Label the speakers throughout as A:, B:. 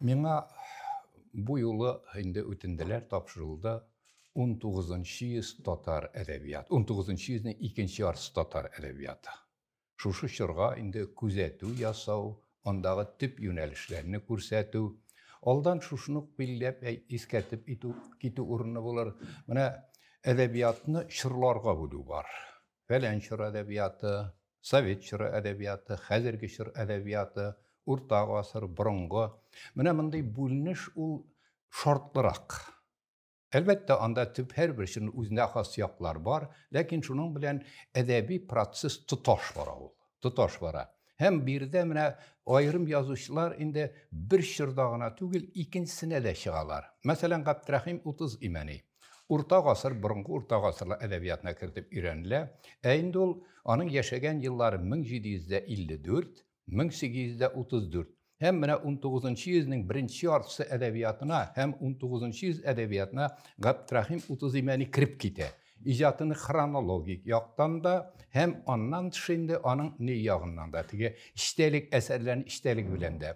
A: Миңа бу юлы инде үтенделәр, тапшырылды, унтугызынчы йөз татар әдәбияты, унтугызынчы йөзнең икенче яртысы татар әдәбияты. Шушы чорга инде күзәтү ясау, андагы төп юнәлешләрне күрсәтү. Алдан шушыны ук билгеләп, искәртеп китү урынлы булыр. Менә әдәбиятны чорларга бүлү бар. Фәлән чор әдәбияты, Совет чоры әдәбияты, хәзерге чор әдәбияты, урта гасыр, борынгы. Менә мондый бүленеш ул шартлырак. Әлбәттә, анда төп һәрбер чорның үзенә хас яклар бар, ләкин шуның белән әдәби процесс тоташ бара ул. Тоташ бара. Һәм биредә менә аерым язучылар инде бер чорда гына түгел, икенчесенә дә чыгалар. Мәсәлән, Габдрәхим Утыз Имәни. Урта гасыр борынгы урта гасырлар әдәбиятына кертеп өйрәнелә, ә инде ул аның яшәгән еллары 1754, 1834 һәм менә унтугызынчы йөзнең беренче яртысы әдәбиятына һәм унтугызынчы йөз әдәбиятына Габдрахим Утызимәни кереп китә. Иҗатыны хронологик яктан да һәм аннан тыш инде аның ни ягыннан да, теге эчтәлек әсәрләрен эчтәлеге белән дә.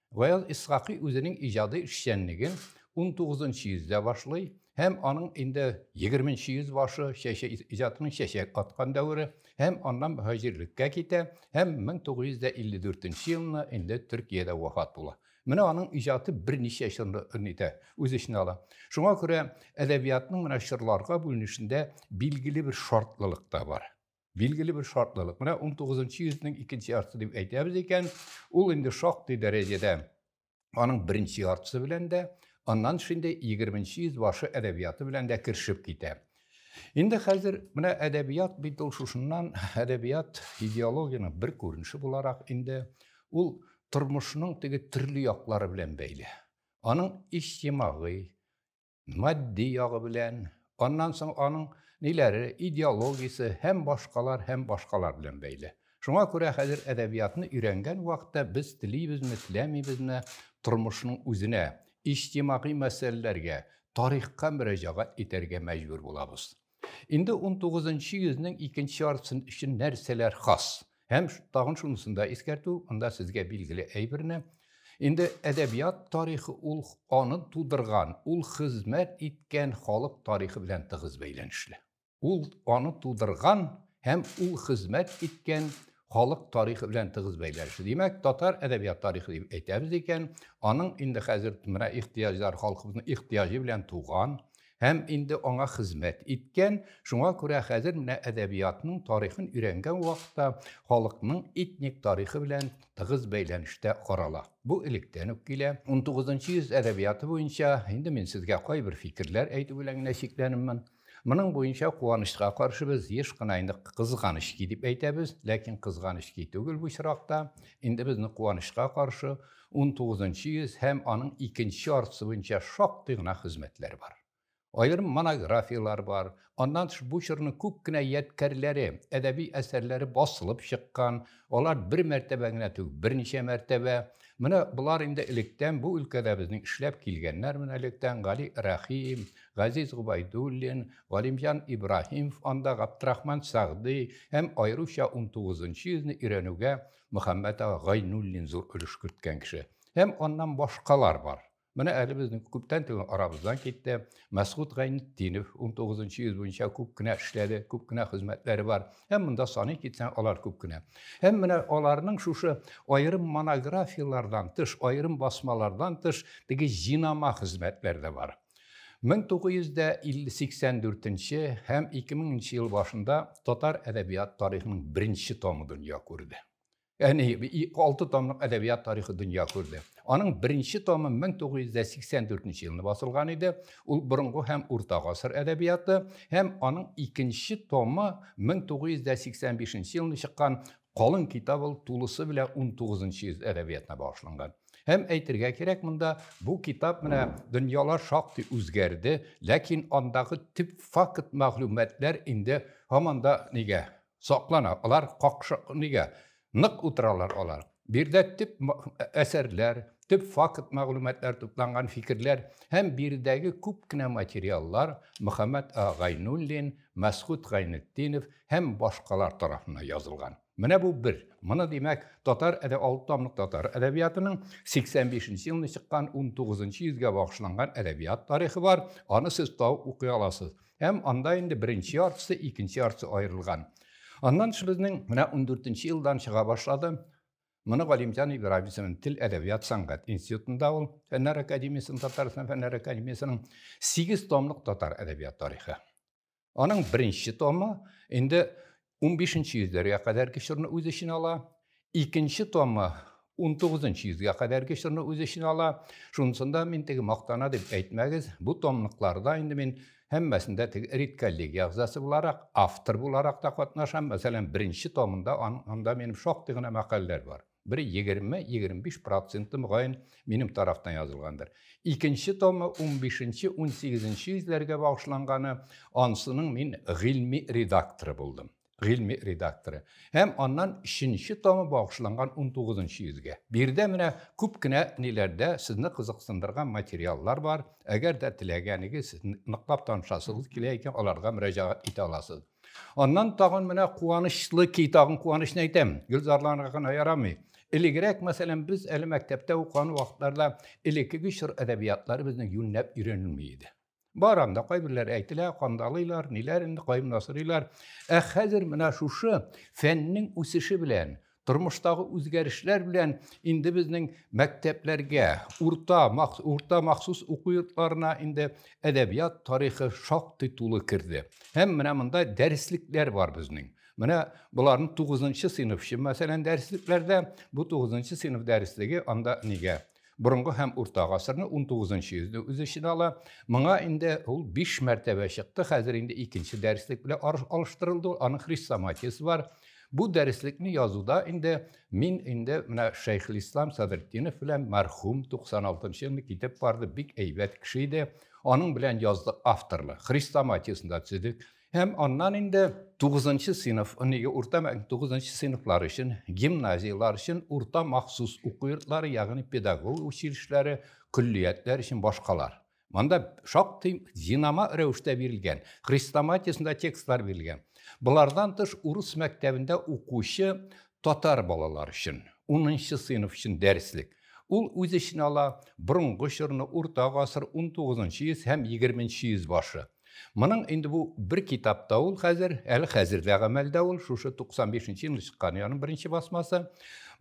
A: Гаяз Исхакый үзенең иҗади эшчәнлеген унтугызынчы йөздә башлый һәм аның инде егерменче йөз башы чәчә иҗатының чәчәк аткан дәвере һәм аннан мөһаҗирлеккә китә һәм 1954 елны инде Төркиядә вафат була. Менә аның иҗаты берничә чорны итә, үз эченә ала. Шуңа күрә әдәбиятның менә чорларга бүленешендә билгеле бер шартлылык та бар. Билгеле бер шартлылык. Менә 19 йөзнең икенче яртысы дип әйтәбез икән, ул инде шактый дәрәҗәдә аның беренче яртысы белән дә, аннан шундый 20 йөз башы әдәбияты белән дә кершеп китә. Инде хәзер менә әдәбият бит ул шушыннан әдәбият идеологияның бер күренеше буларак инде ул тормышның теге төрле яклары белән бәйле. Аның иҗтимагый, Матди ягы белән, аннан соң аның ниләре, идеологиясе һәм башкалар һәм башкалар белән бәйле. Шуңа күрә хәзер әдәбиятны өйрәнгән вакытта без телибезме, теләмибезме, тормышның үзенә, иҗтимагый мәсьәләләргә, тарихка мөрәҗәгать итәргә мәҗбүр булабыз. Инде 19-нчы йөзнең икенче яртысын өчен нәрсәләр хас? Һәм тагын шунысын да искәртү, анда сезгә билгеле әйберне. Инде әдәбият тарихы ул аны тудырган, ул хезмәт иткән халык тарихы белән тыгыз бәйләнешле. Ул аны тудырган һәм ул хезмәт иткән халык тарихы белән тыгыз бәйләнешле. Димәк, татар әдәбият тарихы дип әйтәбез икән, аның инде хәзер менә ихтыяҗлар халкыбызның ихтыяҗы белән туган һәм инде аңа хезмәт иткән. Шуңа күрә хәзер менә әдәбиятның тарихын өйрәнгән вакытта халыкның этник тарихы белән тыгыз бәйләнештә карала. Бу электән үк килә. 19 йөз әдәбияты буенча инде мин сезгә кайбер фикерләр әйтү белән генә чикләнеммен. Моның буенча куанычка каршы без еш кына инде кызганыч ки дип әйтәбез, ләкин кызганыч ки түгел бу чиракта. Инде безне куанычка каршы 19 нчы йөз һәм аның икенче яртысы буенча шактый гына хезмәтләр бар. Аерым монографияләр бар. Аннан тыш бу чорның күп кенә ядкәрләре, әдәби әсәрләре басылып чыккан. Алар бер мәртәбә генә түгел, берничә мәртәбә. Менә болар инде электән бу өлкәдә безнең эшләп килгәннәр, менә электән Гали Рәхим, Газиз Гобәйдуллин, Галимҗан Ибраһимов анда Габдрахман Сәгъди һәм аеруча унтугызынчы йөзне өйрәнүгә Мөхәммәт ага Гайнуллин зур өлеш керткән кеше. Һәм аннан башкалар бар. Менә әле безнең күптән түгел арабыздан китте Мәсгуд Гайнетдинов унтугызынчы йөз буенча күп кенә эшләде, күп кенә хезмәтләре бар. Һәм монда саный китсәң, алар күп кенә. Һәм менә аларның шушы аерым монографияләрдән тыш, аерым басмалардан тыш теге җинама хезмәтләре дә бар. 1984 нче һәм 2000 нче ел башында татар әдәбият тарихының беренче томы дөнья күрде. Әни, алты томлык әдәбият тарихы дөнья күрде. Аның беренче томы 1984 нче елны басылган иде. Ул борынгы һәм урта гасыр әдәбияты һәм аның икенче томы 1985 елны чыккан Калын китап ул тулысы белә унтугызынчы йөз әдәбиятына багышланган. Һәм әйтергә кирәк монда, бу китап менә дөньялар шактый үзгәрде, ләкин андагы төп факт мәгълүматлар инде һаман да нигә саклана, алар какшы нигә нык утыралар алар. Биредә төп әсәрләр, төп факт мәгълүматлар тупланган фикерләр һәм биредәге күп кенә материаллар Мөхәммәт Гайнуллин, Мәсхүт Гайнетдинов, һәм башкалар тарафыннан язылган. Менә бу бер. Моны, димәк, татар әдә алты томлык татар әдәбиятының 85 нче елында чыккан 19 нчы йөзгә багышланган әдәбият тарихы бар. Аны сез табып укый аласыз. Һәм анда инде беренче яртысы, икенче яртысы аерылган. Аннан тыш безнең менә 14 нче елдан чыга башлады. Моны Галимҗан Ибраһимовның тел әдәбият сәнгать институтында ул фәннәр академиясенең Татарстан фәннәр академиясенең 8 томлык татар әдәбият тарихы. Аның беренче томы инде 15 йөзләргә кадәрге чорны үз эченә ала. Икенче томы 19 йөзгә кадәрге чорны үз эченә ала. Шунысында мин теге мактана дип әйтмәгез, бу томлыкларда инде мин һәммәсендә теге эрит коллегия әгъзасы буларак, автор буларак та катнашам. Мәсәлән, беренче томында анда минем шактый гына мәкаләләр бар. Бер егерме-егерме-биш проценты, мөгаен, минем тарафтан язылгандыр. Икенче томы унбишенче-унсигезенче йөзләргә багышланганы, анысының мин гыйльми редакторы булдым. Гыйльми редакторы. Һәм аннан өченче томы багышланган унтугызынчы йөзгә. Биредә менә күп кенә ниләрдә сезне кызыксындырган материаллар бар. Әгәр дә теләгәнегез, ныклап танышасыгыз килә икән, аларга мөрәҗәгать итә аласыз. Аннан тагын менә куанычлы ки, тагын куанычны әйтәм, гөлзарланырга гына ярамый. Элегрәк, мәсәлән, без әле мәктәптә укыган вакытларда элеккеге чор әдәбиятлары безнең юньләп өйрәнелми иде. Бар анда кайберләр әйтелә, кандалыйлар, ниләр инде, кайым насырыйлар. Ә хәзер менә шушы фәннең үсеше белән, тормыштагы үзгәрешләр белән инде безнең мәктәпләргә, урта, урта махсус уку йортларына инде әдәбият тарихы шактый тулы керде. Һәм менә монда дәреслекләр бар безнең. Менә боларның 9 сыйныф өчен, мәсәлән, дәреслекләрдә бу 9 сыйныф дәреслеге анда нигә? Борынгы һәм урта гасырны, 19 йөзне үз эченә ала. Моңа инде ул 5 мәртәбә чыкты, хәзер инде икенче дәреслек белән алыштырылды, аның хрестоматиясе бар. Бу дәреслекне язуда инде мин инде менә Шәйхелислам Садретдинов белән мәрхүм 96 елны китеп барды, бик әйбәт кеше иде. Аның белән яздык авторлы. Хрестоматиясен дә төзедек. Һәм аннан инде 9 сыйныф, нигә урта 9 сыйныфлар өчен, гимназияләр өчен урта махсус уку йортлары, ягъни педагогия училищеләре, көллиятләр өчен башкалар. Монда шактый динама рәвештә бирелгән, хрестоматиясендә текстлар бирелгән. Болардан тыш урыс мәктәбендә укучы Татар балалар өчен унынчы сыйныф өчен дәреслек. Ул үз эченә ала борынгы чорны, урта гасыр, унтугызынчы йөз һәм егерменче йөз башы. Моның инде бу бер китапта ул хәзер, әле хәзер дә гамәлдә ул, шушы 95-нче елны чыккан яның беренче басмасы.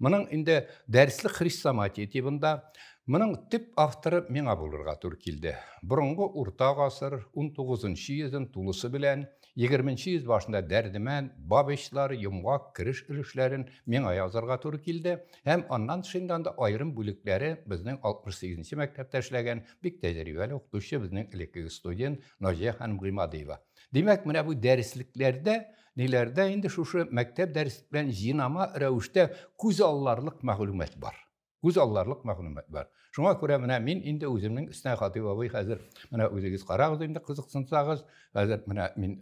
A: Моның инде дәреслек хрестоматия тибында. Моның төп авторы миңа булырга туры килде. Борынгы урта гасыр, унтугызынчы йөзен тулысы белән, Егерменче йөз башында Дәрдемәнд, Бабичлар, Йомгак, Кереш өлешләрен миңа язарга туры килде һәм аннан тышында анда аерым бүлекләре безнең 68 нче мәктәптә эшләгән бик тәҗрибәле укытучы, безнең элеккеге студент Наҗия ханым Гыймадиева. Димәк, менә бу дәреслекләрдә, ниләрдә инде шушы мәктәп дәреслек белән җинама рәвештә күз алларлык мәгълүмат бар. Күз алларлык мәгълүмат бар. Шуңа күрә менә мин инде үземнең өстенә Хатыйп абый хәзер менә үзегез карагыз инде кызыксынсагыз. Хәзер менә мин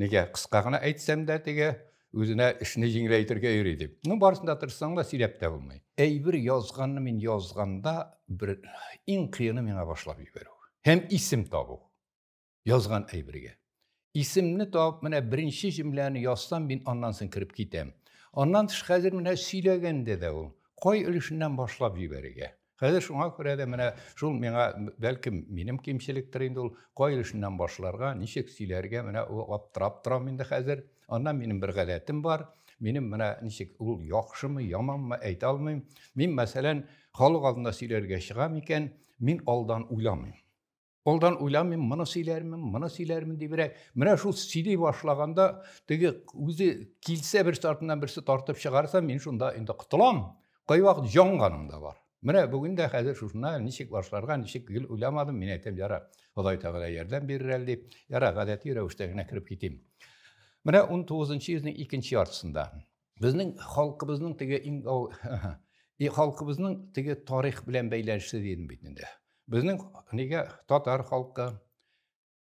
A: нигә кыска гына әйтсәм дә теге үзенә эшне җиңеләйтергә йөри дип. Ну барысын да тырышсаң да сөйләп тә булмый. Әйбер язганны мин язганда бер иң кыены миңа башлап җибәрү һәм исем табу. язган әйбергә. Исемне табып, менә беренче җөмләне язсам, мин аннан соң кереп китәм. Аннан тыш хәзер менә сөйләгәндә дә ул кай өлешеннән башлап җибәрергә. Хәзер шуңа күрә дә менә шул миңа бәлкем минем кимчелектер инде ул кай өлешеннән башларга, ничек сөйләргә менә ул аптырап торам инде хәзер. Аннан минем бер гадәтем бар. Минем менә ничек ул яхшымы, яманмы әйтә алмыйм. Мин мәсәлән, халык алдында сөйләргә чыгам икән, мин алдан уйламыйм. Алдан уйламыйм, моны сөйләрмен, моны сөйләрмен дибрәк. Менә шул сөйли башлаганда, теге үзе килсә бер артыннан берсе тартып чыгарса, мин шунда инде котылам. Кайвакыт җанганым да бар. Менә бүген дә хәзер шушына ничек башларга, ничек гел уйламадым, мин әйтәм, яра, Ходай Тәгалә ярдәм бирер әле дип, яра, гадәти рәвештә генә кереп китим. Менә 19 нчы йөзнең икенче яртысында Безнең халкыбызның теге иң ау и халкыбызның теге тарих белән бәйләнешле дидем бит инде. Безнең нигә татар халкы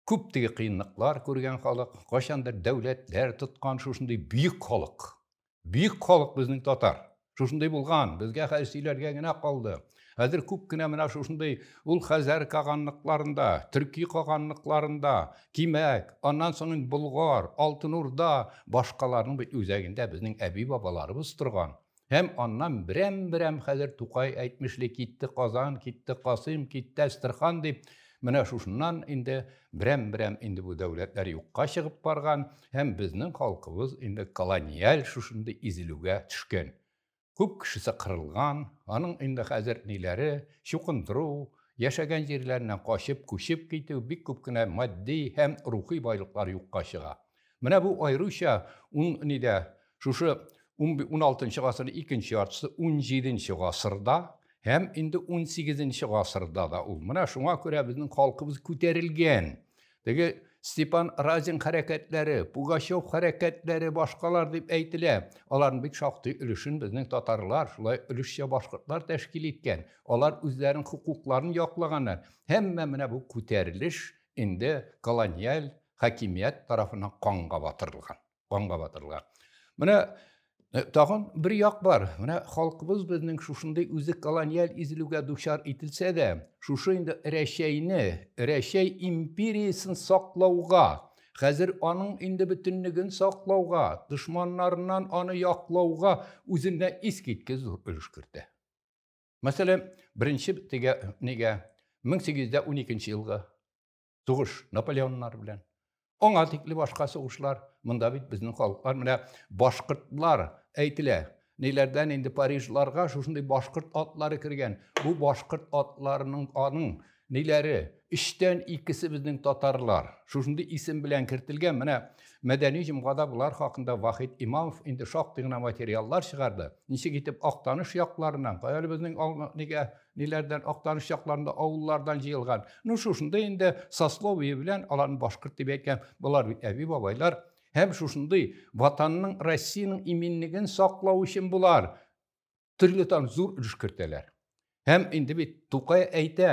A: күп теге кыенлыклар күргән халык, кайчандыр дәүләтләр тоткан шушындый бөек халык. Бөек халык безнең татар. Шушындый булган, безгә хәзер сөйләргә генә калды. Хәзер күп кенә менә шушындый ул Хәзәр каганлыкларында, төрки каганлыкларында, Кимәк, аннан соң инде Болгар, Алтын Урда, башкаларның бит үзәгендә безнең әби-бабаларыбыз торган. Һәм аннан берәм-берәм хәзер Тукай әйтмешли китте Казан, китте Касыйм, китте Әстерхан дип, менә шушыннан инде берәм-берәм инде бу дәүләтләр юкка чыгып барган һәм безнең халкыбыз инде колониаль шушындый изелүгә төшкән. Күп кешесе кырылган, аның инде хәзер ниләре, чукындыру, яшәгән җирләреннән качып, күчеп китү, бик күп кенә матди һәм рухи байлыклар юкка чыга. Менә бу аеруча ун нидә, шушы уналтынчы гасырның икенче яртысы, унҗиденче гасырда һәм инде унсигезенче гасырда да ул. Менә шуңа күрә безнең халкыбыз күтәрелгән, Теге Степан Разин хәрәкәтләре, Пугачев хәрәкәтләре башкалар дип әйтелә. Аларның бик шактый өлешен безнең татарлар, шулай өлешчә башкортлар тәшкил иткән. Алар үзләренең хокукларын яклаганнар. Һәммә менә бу күтәрелеш инде колониаль хакимият тарафыннан канга батырылган. канга батырылган. Менә э, тагын бер як бар. Менә халкыбыз безнең шушындый үзе колониаль изелүгә дучар ителсә дә, шушы инде Рәчәйне, Рәчәй империясен саклауга, хәзер аның инде бөтенлеген саклауга, дошманнарыннан аны яклауга үзенә искиткеч зур өлеш кертә. Мәсәлән, беренче тегә нигә 1812 елгы Сугыш Наполеоннар белән. Аңа тикле башка сугышлар, монда бит безнең халыклар менә башкортлар әйтелә. Ниләрдән инде Парижларга шушындый башкорт атлары кергән. Бу башкорт атларының аның ниләре? Өчтән икесе безнең татарлар. Шушындый исем белән кертелгән. Менә мәдәни җомгада болар хакында Вахид Имамов инде шактый гына материаллар чыгарды. Ничек итеп Актаныш якларыннан, кая безнең нигә ниләрдән актаныш чакларында авыллардан җыелган ну шушындый инде сословие белән аларны башкорт дип әйтәм болар бит әби бабайлар һәм шушындый ватанның россиянең иминлеген саклау өчен болар төрле там зур өлеш кертәләр һәм инде бит тукай әйтә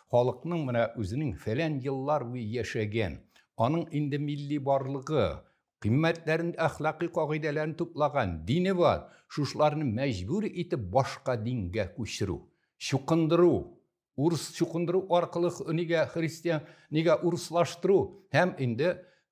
A: Халыкның менә үзенең фәлән еллар буе яшәгән, аның инде милли барлыгы, кыйммәтләрен, әхлакый кагыйдәләрен туплаган дине бар, шушыларны мәҗбүр итеп башка дингә күчерү, чукындыру, урыс чукындыру аркылы нигә христиан, нигә урыслаштыру һәм инде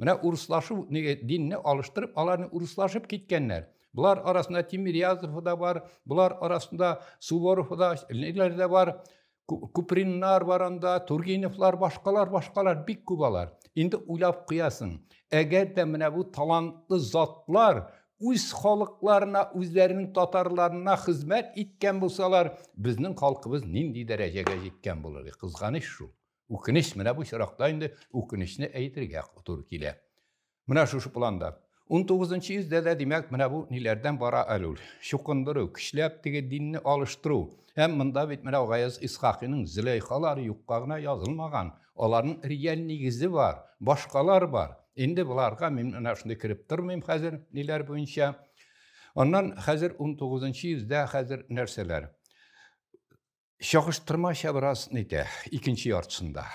A: Менә урыслашу, нигә динне алыштырып, аларны урыслашып киткәннәр. Болар арасында Тимирязов да бар, болар арасында Суворов да, ниләр дә бар. Куприннар бар анда, Тургеневлар, башкалар, башкалар бик күп алар. Инде уйлап куясың, әгәр дә менә бу талантлы затлар үз халыкларына, үзләренең татарларына хезмәт иткән булсалар, безнең халкыбыз нинди дәрәҗәгә җиткән булыр? Кызганыч шул. Үкенеч, менә бу чиракта инде үкенечне әйтергә туры килә. Менә шушы планда. 19 нчы йөздә дә, димәк, менә бу ниләрдән бара әле ул? Чукындыру, көчләп теге динне алыштыру. Һәм монда бит менә Гаяз Исхакыйның Зөләйхалары юкка гына язылмаган. Аларның реаль нигезе бар, башкалар бар. Инде боларга мин менә шундый кереп тормыйм хәзер, ниләр буенча. Аннан хәзер 19 нчы йөздә хәзер нәрсәләр? Чагыштырмача бераз нитә, икенче яртысында.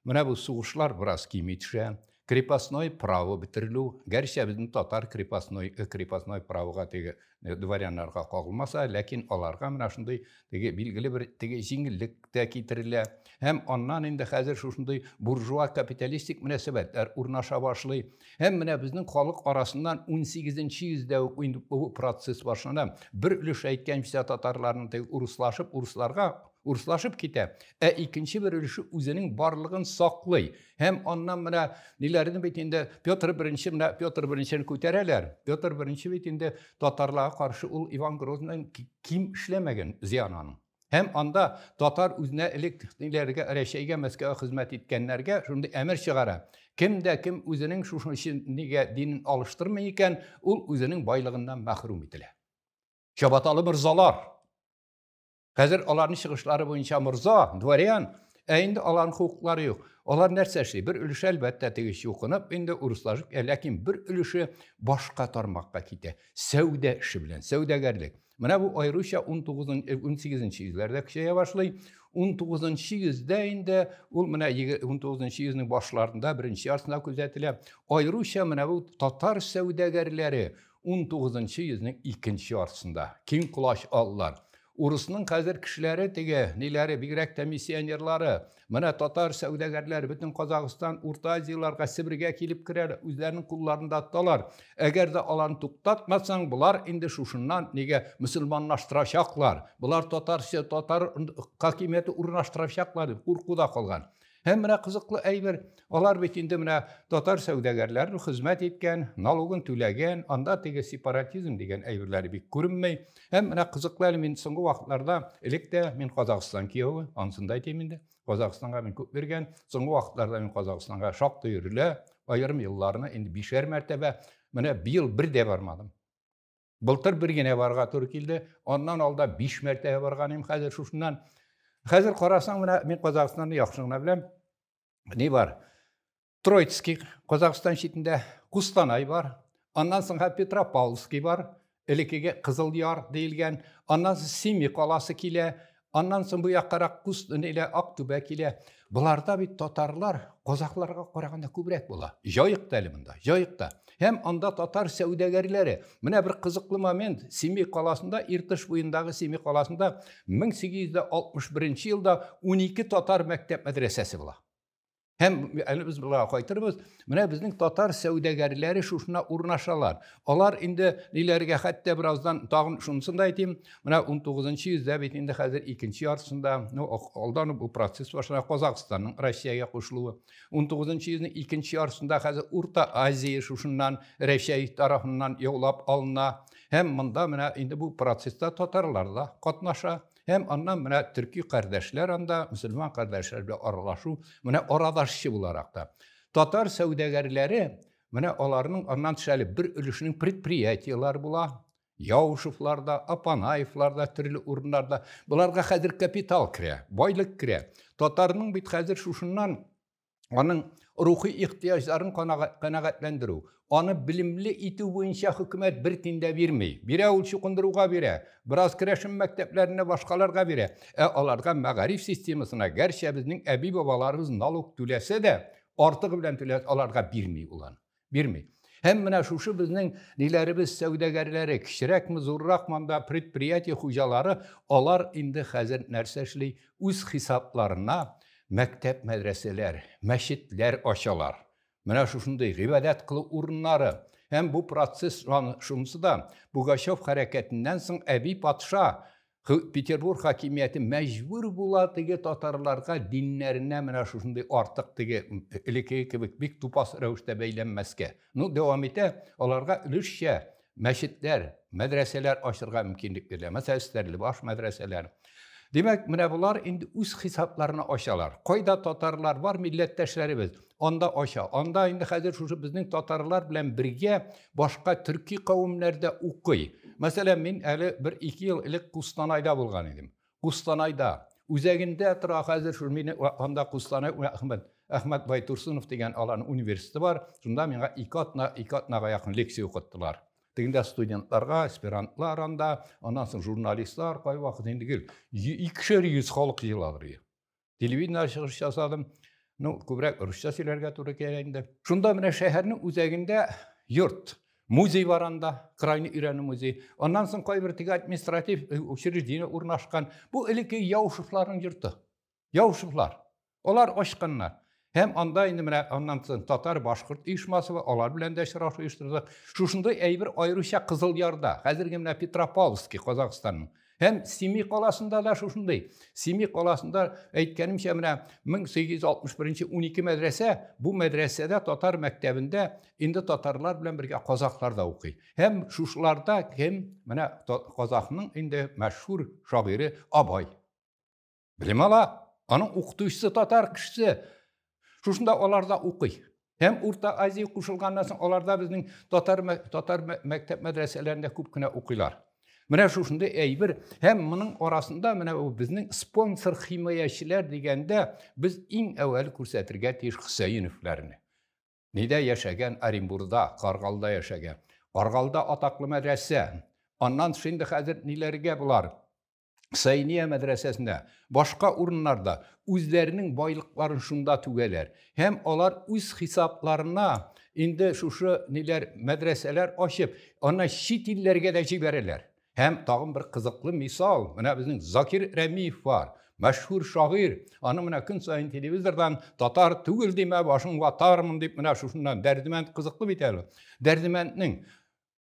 A: Менә бу сугышлар бераз кими төшә. Крепостной право бетерелү, гәрчә безнең татар крепостной, э, крепостной правога теге э, дворяннарга кагылмаса, ләкин аларга менә шундый теге билгеле бер теге җиңеллек тә китерелә. Һәм аннан инде хәзер шушындый буржуа капиталистик мөнәсәбәтләр урнаша башлый. Һәм менә безнең халык арасыннан 18-нче йөздә үк инде бу процесс башлана. Бер өлеш әйткәнчә татарларның теге урыслашып, урысларга урыслашып китә, ә икенче бер өлеше үзенең барлыгын саклый. Һәм аннан менә ниләрне бит инде Петр I менә Петр I-ны күтәрәләр. Петр I бит инде татарларга каршы ул Иван Грозныйның ким эшләмәгән зыян аның. Һәм анда татар үзенә элек ниләргә Рәшәйгә, Мәскәүгә хезмәт иткәннәргә шундый әмер чыгара. Кем дә кем үзенең шушы өчен нигә динен алыштырмый икән, ул үзенең байлыгыннан мәхрүм ителә. Чабаталы морзалар. Хәзер аларның чыгышлары буенча морза, дворян, ә инде аларның хукуклары юк. Алар нәрсә эшли? Бер өлеше әлбәттә теге чукынып инде урыслашып, ә ләкин бер өлеше башка тармакка китә. Сәүдә эше белән, сәүдәгәрлек. Менә бу аеруча 19-18 э, йөзләрдә көчәя башлый. 19 йөздә инде ул менә 19 йөзнең башларында беренче ярсына күзәтелә. Аеруча менә бу татар сәүдәгәрләре 19 йөзнең икенче ярсында киң колач аллар. Урысның хәзер кешеләре теге, ниләре, бигрәк тә миссионерлары, Менә татар сәүдәгәрләре бөтен Казахстан, Урта Азияләргә, Себергә килеп керәләр, үзләренең кулларында тоталар. Әгәр дә аларны туктатмасаң, болар инде шушыннан нигә мөселманлаштырачаклар, болар татарча, татар хакимияте урнаштырачаклар дип куркуда калган. Һәм менә кызыклы әйбер, алар бит инде менә татар сәүдәгәрләрен хезмәт иткән, налогын түләгән, анда теге сепаратизм дигән әйберләре бик күренми. Һәм менә кызыклы әле мин соңгы вакытларда, элек тә мин Казахстан кияве, ансын да әйтим инде. Казахстанга мин күп биргән. Соңгы вакытларда мин Казахстанга шактый йөрелә, аерым елларны инде бишәр мәртәбә. Менә быел бер дә бармадым. Былтыр бер генә барга туры килде. Аннан алда биш мәртәбә барган идем хәзер шушыннан. Хәзер карасаң, менә мин Казахстанны яхшы гына беләм. Ни бар? Троицкий, Казахстан читендә Кустанай бар, аннан соңга Петропавловский бар, элекеге Кызыл Яр диелгән, аннан соң Семи каласы килә, аннан соң бу яккарак Куст нилә Актүбә килә. Боларда бит татарлар казахларга караганда күбрәк була. Җаек та әле монда, җаек та. Һәм анда татар сәүдәгәрләре. Менә бер кызыклы момент, Семи каласында, Иртыш буендагы Семи каласында 1861 елда 12 татар мәктәп мәдрәсәсе була. Һәм әле без болай кайтырбыз. Менә безнең татар сәүдәгәрләре шушына урнашалар. Алар инде ниләргә хәтта бераздан тагын шунысын да әйтим. Менә 19-нчы йөздә бит инде хәзер икенче яртысында, ну, алдан бу процесс башлана Казахстанның Россиягә кушылуы. 19-нчы йөзнең икенче яртысында хәзер Урта Азия шушыннан Рәсәй тарафыннан яулап алына. Һәм монда менә инде бу процесста татарлар да катнаша. Һәм аннан менә төрки кардәшләр анда, мөселман кардәшләр белән аралашу, менә арадашчы буларак та. Татар сәүдәгәрләре, менә аларның аннан төшәлеп бер өлешнең предприятиеләр була, Яушевлар да, Апанаевлар да, төрле урыннарда. Боларга хәзер капитал керә, байлык керә. Татарның бит хәзер шушыннан аның рухи ихтыяҗларын канәгатьләндерү, аны белемле итү буенча хөкүмәт бер тин дә бирми. Бирә ул чукындыруга бирә, бераз керәшен мәктәпләренә башкаларга бирә. Ә аларга мәгариф системасына, гәрчә безнең әби-бабаларыбыз налог түләсә дә, артыгы белән түләс аларга бирми ул аны. Бирми. Һәм менә шушы безнең ниләребез сәүдәгәрләре, кечерәкме, зурракмы анда предприятие хуҗалары, алар инде хәзер нәрсә эшли? Үз хисапларына мәктәп, мәдрәсәләр, мәчетләр ачалар. Менә шушындый гыйбадәт кылу урыннары. Һәм бу процесс шунысы да Пугачев хәрәкәтеннән соң әби патша Петербург хакимияте мәҗбүр була теге татарларга диннәренә менә шушындый артык теге элекеге кебек бик тупас рәвештә бәйләнмәскә. Ну, дәвам итә, аларга өлешчә мәчетләр, мәдрәсәләр ачырга мөмкинлек бирелә. Мәсәлән, Стәрлебаш мәдрәсәләр. Димәк, менә болар инде үз хисапларына ачалар. Кайда татарлар бар, милләттәшләребез. анда ача. Анда инде хәзер шушы безнең татарлар белән бергә башка төрки кавемнәр дә укый. Мәсәлән, мин әле бер ике ел элек Кустанайда булган идем. Кустанайда үзәгендә тора хәзер шул мине анда Кустанай Әхмәт Әхмәт Байтурсынов дигән аларның университеты бар. Шунда миңа ике атна, ике атнага якын лекция укыттылар. Тегендә студентларга, аспирантлар анда, аннан соң журналистлар кайвакыт инде гел икешәр йөз халык җыела телевидение чыгыш ясадым. Ну, күбрәк русча сөйләргә туры килә инде. Шунда менә шәһәрнең үзәгендә йорт, музей бар анда, крайны өйрәнү музей. Аннан соң кайбер теге административ э, учреждение урнашкан. Бу элекке Яушевларның йорты. Яушевлар. Алар ачканнар. Һәм анда инде менә аннан соң татар-башкорт оешмасы бар, алар белән дә очрашу оештырдык. Шушындый әйбер аеруча Кызыл Ярда, хәзерге менә Петропавловский, Казахстанның. Һәм Семи каласында да шушындый. Семи каласында әйткәнемчә менә 1861 12 мәдрәсә, бу мәдрәсәдә татар мәктәбендә инде татарлар белән бергә казахлар да укый. Һәм шушыларда кем? Менә казахның инде мәшһүр шагыйре Абай. Белем ала. Аның укытучысы татар кешесе. Шушында аларда укый. Һәм Урта Азия кушылганнан соң аларда безнең татар татар мәктәп мәдрәсәләрендә күп кенә укыйлар. Менә шушында әйбер һәм моның арасында менә ул безнең спонсор химаячеләр дигәндә без иң әүвәл күрсәтергә тиеш Хөсәеновларны. Нидә яшәгән Оренбурда, Каргалда яшәгән. Каргалда атаклы мәдрәсә. Аннан шундый хәзер ниләргә булар? Сәйния мәдрәсәсендә, башка урыннарда үзләренең байлыкларын шунда түгәләр. Һәм алар үз хисапларына инде шушы ниләр мәдрәсәләр ачып, аны чит илләргә дә җибәрәләр. Һәм тагын бер кызыклы мисал, менә безнең Закир Рәмиев бар, мәшһүр шагыйрь. Аны менә көн саен телевизордан татар түгел димә, башың ватармын дип менә шушыннан Дәрдемәнд кызыклы бит әле. Дәрдемәнднең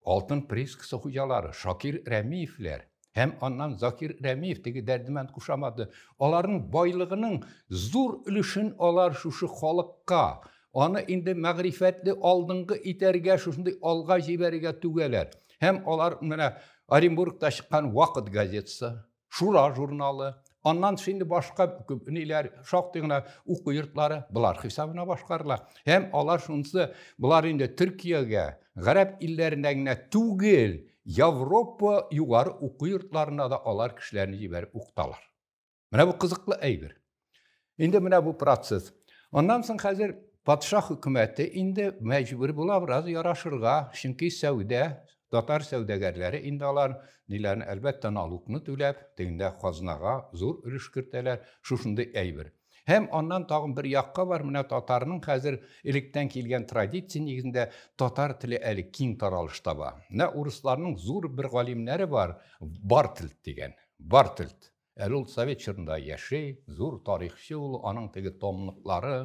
A: Алтын приискасы хуҗалары Шакир Рәмиевләр һәм аннан Закир Рәмиев теге дәрдемәнд кушаматы, аларның байлыгының зур өлешен алар шушы халыкка, аны инде мәгърифәтле алдынгы итәргә, шушындый алга җибәрергә түгәләр. Һәм алар менә Оренбургта чыккан Вакыт газетасы, Шура журналы, аннан шундый башка күп ниләр, шактый гына уку йортлары болар хисабына башкарыла. Һәм алар шунысы, болар инде Төркиягә, гарәп илләренә генә түгел, Европа югары уку йортларына да алар кешеләрне җибәреп укыталар. Менә бу кызыклы әйбер. Инде менә бу процесс. Аннан соң хәзер патша хөкүмәте инде мәҗбүр була бераз ярашырга, чөнки сәүдә, татар сәүдәгәрләре инде алар ниләрне, әлбәттә, налукны түләп, тегендә казнага зур өлеш кертәләр, шушындый әйбер. Һәм аннан тагын бер якка бар, менә татарның хәзер электән килгән традиция нигезендә татар теле әле киң таралыш таба. Менә урысларның зур бер галимнәре бар, Бартельд дигән. Бартельд. Әле ул совет чорында яши, зур тарихчы ул, аның теге томлыклары.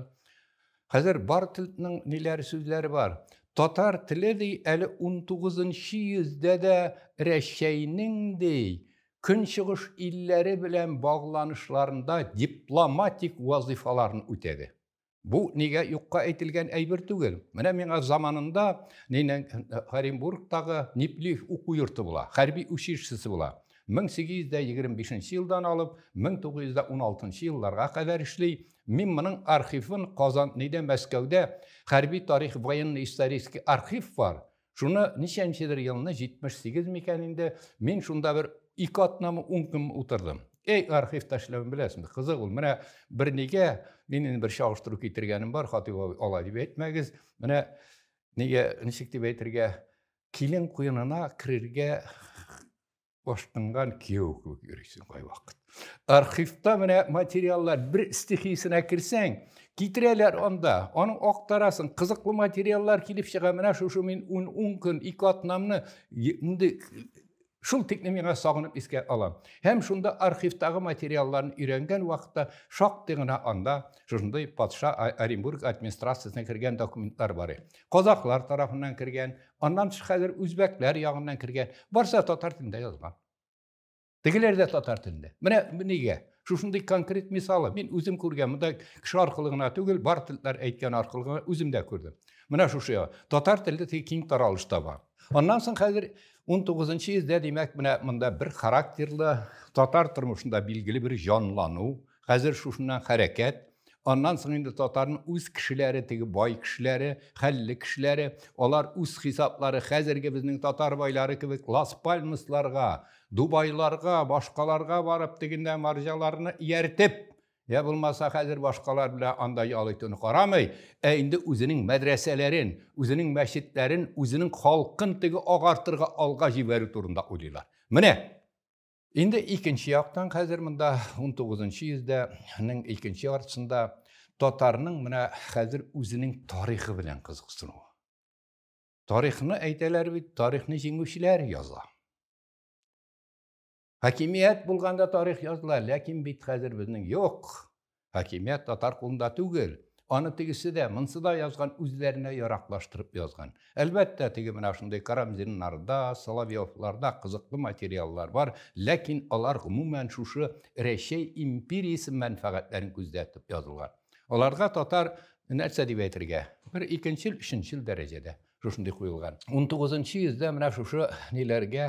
A: Хәзер бар телтнең ниләр сүзләре бар. Татар теле ди әле 19 нчы йөздә дә Рәчәйнең ди көнчыгыш илләре белән багланышларында дипломатик вазыйфаларын үтәде. Бу нигә юкка әйтелгән әйбер түгел. Менә миңа заманында нинең Оренбургтагы Ниплив уку йорты була, хәрби училищесы була. 1825 елдан алып 1916 елларга кадәр эшли. Мин моның архивын Казан, нидә Мәскәүдә хәрби тарих военный исторический архив бар. Шуны ничәнчедер елны, 78 микән инде, мин шунда бер ике атнамы, ун көн утырдым. Эй, архивта эшләвен беләсеңме? Кызык ул. Менә бер нигә мин инде бер чагыштыру китергәнем бар, Хатыйп абый, алай дип әйтмәгез. Менә нигә ничек дип әйтергә, килен куенына керергә Баштыңган кияү кебек йөрисең кайвакыт. Архивта менә материаллар бер стихиясенә керсәң, китерәләр анда, аны актарасын, кызыклы материаллар килеп чыга. Менә шушы мин 10 ун көн ике атнамны инде шул тикне миңа сагынып искә алам. Һәм шунда архивтагы материалларын өйрәнгән вакытта шактый гына анда шушындый патша Оренбург администрациясенә кергән документлар бар. Казахлар тарафыннан кергән, аннан тыш хәзер үзбәкләр ягыннан кергән. Барса татар телендә язган. Тегеләр дә татар телендә. Менә нигә? Шушындый конкрет мисалы. Мин үзем күргән, монда кеше аркылы гына түгел, бар телләр әйткән аркылы гына үзем дә күрдем. Менә шушы татар теле тик киң таралыш таба. Аннан соң хәзер 19 йөздә, димәк, менә монда бер характерлы татар тормышында билгеле бер җанлану, Хәзер шушыннан хәрәкәт, аннан соң инде татарның үз кешеләре, теге бай кешеләре, хәлле кешеләре, алар үз хисаплары хәзерге безнең татар байлары кебек Лас-Пальмасларга, Дубайларга, башкаларга барып, тегендә марҗаларны ияртеп, йә булмаса хәзер башкалар белән анда ял итүне карамый, ә инде үзенең мәдрәсәләрен, үзенең мәчетләрен, үзенең халкын теге агартырга алга җибәрү турында уйлыйлар. Менә! Инде икенче яктан хәзер монда 19 йөздәнең икенче яртысында татарның менә хәзер үзенең тарихы белән кызыксынуы. Тарихны әйтәләр бит, тарихны җиңүчеләр яза. Хакимият булганда тарих языла, ләкин бит хәзер безнең юк. Хакимият татар кулында түгел. Аны тегесе дә, монсы да язган, үзләренә яраклаштырып язган. Әлбәттә, теге менә шундый Карамзиннарда, Соловьевларда кызыклы материаллар бар, ләкин алар гомумән шушы Рәчәй империясе мәнфәгатьләрен күздә тотып язылган. Аларга татар, нәрсә дип әйтергә, бер икенчел, өченчел дәрәҗәдә шушындый куелган. Унтугызынчы йөздә менә шушы ниләргә,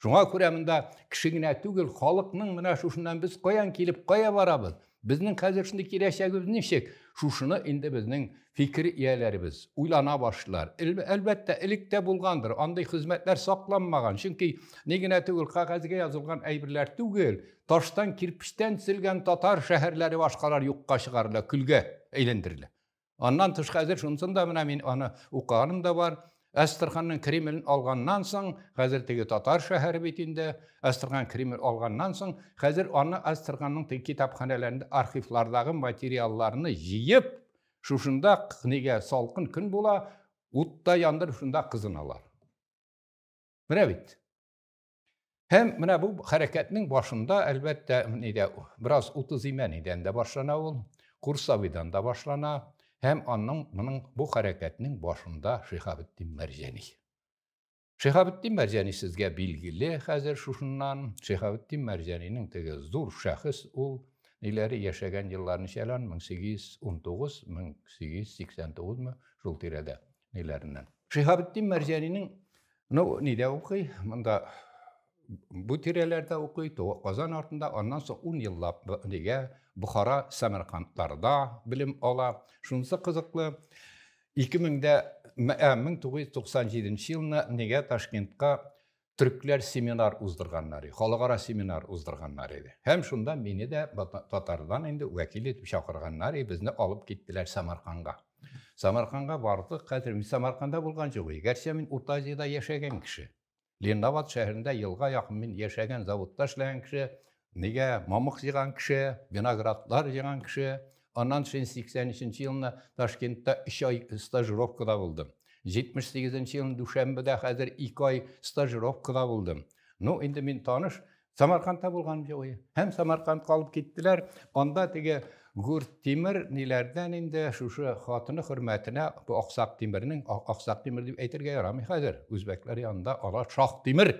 A: Шуңа күрә монда кеше генә түгел, халыкның менә шушыннан без каян килеп, кая барабыз? Безнең хәзер шундый киләчәгебез ничек? Шушыны инде безнең фикер ияләребез уйлана башлар. Әлбәттә, элек тә булгандыр, андый хезмәтләр сакланмаган. Чөнки ни генә түгел, кагазьгә язылган әйберләр түгел, таштан, кирпечтән төзелгән татар шәһәрләре башкалар юкка чыгарыла, көлгә әйләндерелә. Аннан тыш хәзер шунсын да менә мин аны укыганым да бар. Әстерханның Кремлен алганнан соң, хәзер теге татар шәһәре бит инде, Әстерхан Кремль алганнан соң, хәзер аны Әстерханның теге китапханәләрендә архивлардагы материалларны җыеп, шушында книга салкын көн була, утта яндырып шунда кызыналар. Менә бит. Һәм менә бу хәрәкәтнең башында, әлбәттә, нидә бераз утызимәнидән дә башлана ул, Курсавидан да башлана, һәм аның моның бу хәрәкәтнең башында Шиһабетдин Мәрҗәни. Шиһабетдин Мәрҗәни сезгә билгеле хәзер шушыннан, Шиһабетдин Мәрҗәнинең теге зур шәхес ул, ниләре яшәгән еллар ничәлән, 1819, 1889 мы, шул тирәдә, ниләреннән. Шиһабетдин Мәрҗәнинең Ну, нидә укый? Монда бу тирәләрдә укый, Казан артында, аннан соң ун еллап нигә Бухара Сәмәркантларда белем ала. Шунысы кызыклы, 1997 елны нигә Ташкентка төрекләр семинар уздырганнар, халыкара семинар уздырганнар иде. Һәм шунда мине дә татардан инде вәкил итеп чакырганнар, безне алып киттеләр Самарканга. Самарканга бардык, хәзер мин Самарканда булган җылый, гәрчә мин Урта Азиядә яшәгән кеше. Ленинабад шәһәрендә елга якын мин яшәгән, заводта эшләгән кеше, нигә мамык җыйган кеше, виноградлар җыйган кеше. Аннан син 83 елны Ташкентта 3 ай стажировкада булдым. 78 елны Дүшәмбедә хәзер 2 ай стажировкада булдым. Ну, инде мин таныш, Самаркандта булган җоя. Һәм Самарканд калып киттеләр. Анда теге Гүрт Тимер ниләрдән инде шушы хатыны хөрмәтенә бу Аксак Тимернең Аксак Тимер дип әйтергә ярамый хәзер. Үзбәкләр янында ала Шах Тимер.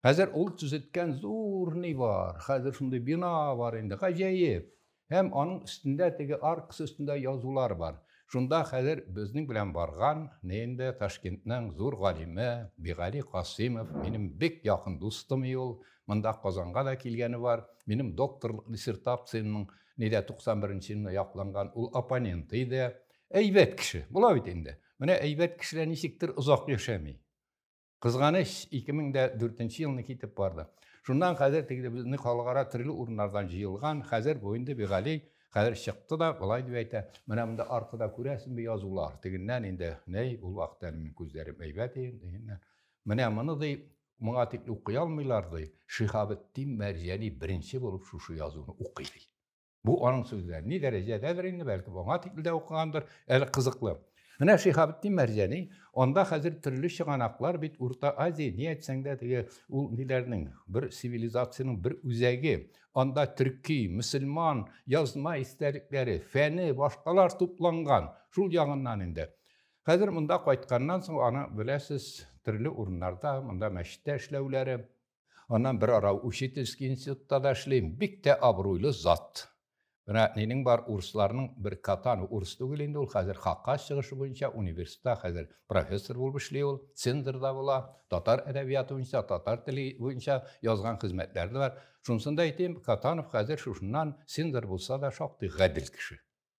A: Хәзер ул төзеткән зур ни бар. Хәзер шундый бина бар инде. Гаҗәеп. Һәм аның өстендә теге аркасы өстендә язулар бар. Шунда хәзер безнең белән барган, ненде, Ташкентның зур галиме Бигали Касыймов, минем бик якын дустым и ул, монда Казанга да килгәне бар, минем докторлык диссертациямнең нидә 91 нче елында якланган ул оппоненты иде. Әйбәт кеше, була бит инде. Менә әйбәт кешеләр ничектер озак яшәми. Кызганыч, 2004 нче елны китеп барды. Шуннан хәзер теге безне халыкара төрле урыннардан җыелган, хәзер бу инде Бигали хәзер чыкты да, болай дип әйтә, менә монда аркада күрәсеңме язулар, тегеннән инде, нәй, ул вакыт әле минем күзләрем әйбәт иде, менә моны ди, моңа дип укый алмыйлар ди, Шиһабетдин Мәрҗани беренче булып шушы язуны укый ди. Бу аның сүзләре. Ни дәрәҗәдәдер инде, бәлки аңа тикле дә укыгандыр, әле кызыклы. Менә Шиһабетдин Мәрҗәни, анда хәзер төрле чыганаклар бит Урта Азия, ни әйтсәң дә теге ул ниләрнең бер цивилизацияның бер үзәге. Анда төрки, мөселман, язма истәлекләре, фәне, башкалар тупланган. Шул ягыннан инде. Хәзер монда кайтканнан соң аны беләсез, төрле урыннарда, монда мәчеттә эшләүләре, Аннан бер ара учительский институтта да эшлим. Бик тә абруйлы зат. Менә нинең бар урысларның бер катан урыс түгел инде ул хәзер хакка чыгышы буенча университетта хәзер профессор булып эшли ул, цензорда була, татар әдәбияты буенча, татар теле буенча язган хезмәтләре дә бар. Шунсында әйтим, Катанов хәзер шушыннан цензор булса да шактый гадел кеше.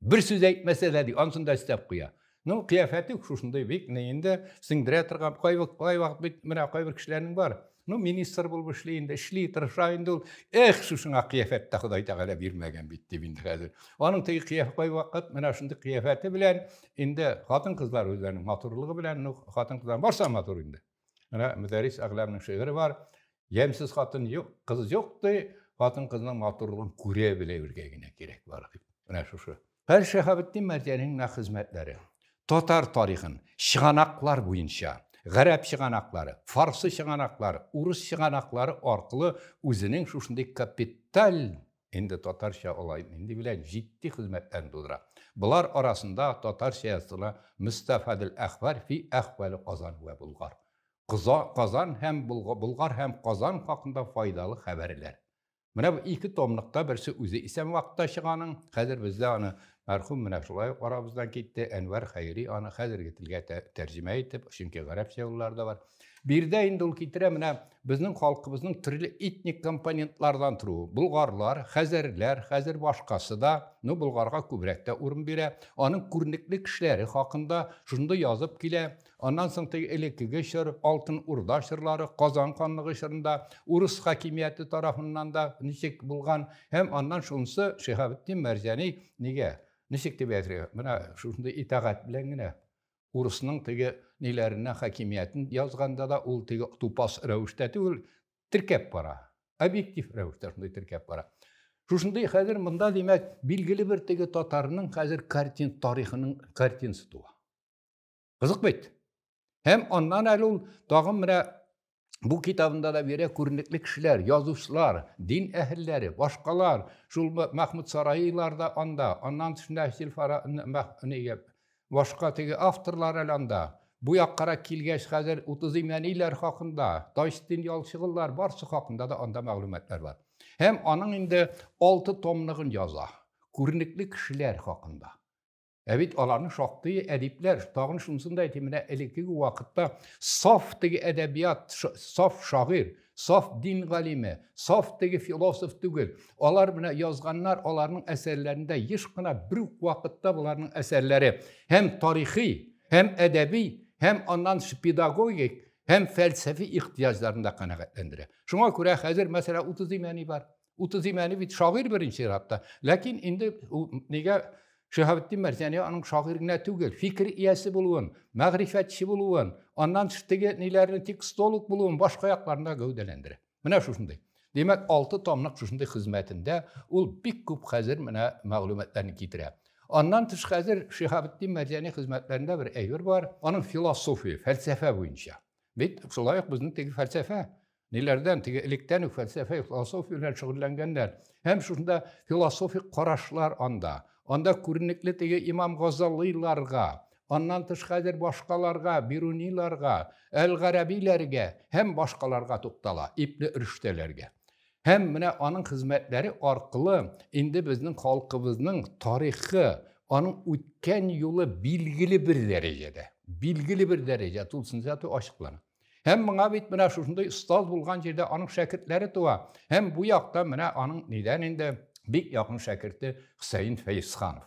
A: Бер сүз әйтмәсә дә, ди, ансын да өстәп куя. Ну, кыяфәте шушындай бик, не инде сеңдерә торган, кай вакыт, кай вакыт бит менә кай бер кешеләрнең бар. Ну, министр булып эшли инде, эшли, тырыша инде ул. Эх, шушыңа кыяфәт тә Ходай Тәгалә бирмәгән бит дип инде хәзер. Аның теге кыяфәт кай вакыт менә шундый кыяфәте белән инде хатын-кызлар үзләренең матурлыгы белән, ну, хатын-кызлар барса матур инде. Менә Мөдәрис Әгъләмнең шигыре бар. Ямьсез хатын юк, кыз юк ди, хатын-кызның матурлыгын күрә белә үргә генә кирәк бар дип. Менә шушы. Һәр Шәһабетдин Мәрҗәнинең менә хезмәтләре. Татар тарихын чыганаклар буенча, гарәп чыганаклары, фарсы чыганаклары, урыс чыганаклары аркылы үзенең шушындый капиталь Инде татарча алай нинди белән җитди хезмәтләрен тудыра. Болар арасында татарча языла Мөстәфадел әхбар фи әхвали Казан вә Болгар, Кыза, Казан һәм Булга, Болгар һәм Казан хакында файдалы хәбәрләр. Менә бу ике томлыкта берсе үзе исән вакытта чыганың, хәзер бездә аны Мәрхүм менә шулай ук арабыздан китте, Әнвәр Хәйри аны хәзерге телгә тәрҗемә итеп, чөнки гарәпчә юллары да бар. Биредә инде ул китерә менә безнең халкыбызның төрле этник компонентлардан торуы. Болгарлар, хәзәрләр, хәзер башкасы да, ну болгарга күбрәк тә урын бирә. Аның күренекле кешеләре хакында шундый язып килә. Аннан соң теге элеккеге чор, Алтын Урда чорлары, Казан ханлыгы чорында урыс хакимияте тарафыннан да ничек булган, һәм аннан шунысы Шиһабетдин Мәрҗани нигә, ничек дип әйтергә, менә шушындый итагать белән генә урысның теге ниләренә хакимиятен язганда да ул теге тупас рәвештә түгел, теркәп бара. Объектив рәвештә шундый теркәп бара. Шушындый хәзер монда димәк, билгеле бер теге татарның хәзер картин тарихының картинасы туа. Кызык бит. Һәм аннан әле ул тагын менә бу китабында да бирә күренекле кешеләр, язучылар, дин әһелләре, башкалар, шул Мәхмүд Сараилар да анда, аннан тышында Сильфара нигә башка теге авторлар әле анда. Бу яккара килгәч хәзер утыз имәниләр хакында, Тайстин ялчыгыллар барсы хакында да анда мәгълүматлар бар. Һәм аның инде алты томлыгын яза. Күренекле кешеләр хакында. Ә бит аларның шактые әдипләр, тагын шунысын да әйтим, менә элеккеге вакытта саф теге әдәбият, саф шагыйр, саф дин галиме, саф теге философ түгел. Алар менә язганнар, аларның әсәрләрендә еш кына бер үк вакытта боларның әсәрләре һәм тарихи, һәм әдәби, һәм аннан педагогик, һәм фәлсәфи ихтыяҗларны да канәгатьләндерә. Шуңа күрә хәзер мәсәлән 30 имәни бар. 30 имәне бит шагыйрь беренче чиратта. Ләкин инде нигә Шиһабетдин Мәрҗани аның шагыйрь генә түгел, фикер иясе булуын, мәгърифәтче булуын, аннан теге ниләрне текстолог булуын башка якларында гәүдәләндерә. Менә шушындый. Димәк, алты томлык шушындый хезмәтендә ул бик күп хәзер менә мәгълүматларны китерә. Аннан тыш хәзер Шиһабетдин Мәрҗани хезмәтләрендә бер әйбер бар, аның философия, фәлсәфә буенча. Бит шулай ук безнең теге фәлсәфә, ниләрдән, теге электән үк фәлсәфә, философия белән шөгыльләнгәннәр. Һәм шунда философик карашлар анда. Анда күренекле теге имам Газалыйларга, аннан тыш хәзер башкаларга, Бируниларга, Әл-Гарәбиләргә һәм башкаларга туктала, ипле өлештәләргә. Һәм менә аның хезмәтләре аркылы инде безнең халкыбызның тарихы, аның үткән юлы билгеле бер дәрәҗәдә, билгеле бер дәрәҗә тулысынча ачыклана. Һәм моңа бит менә шушындый остаз булган җирдә аның шәкертләре туа. Һәм бу якта менә аның нидән инде бик якын шәкерте Хөсәен Фәйсханов.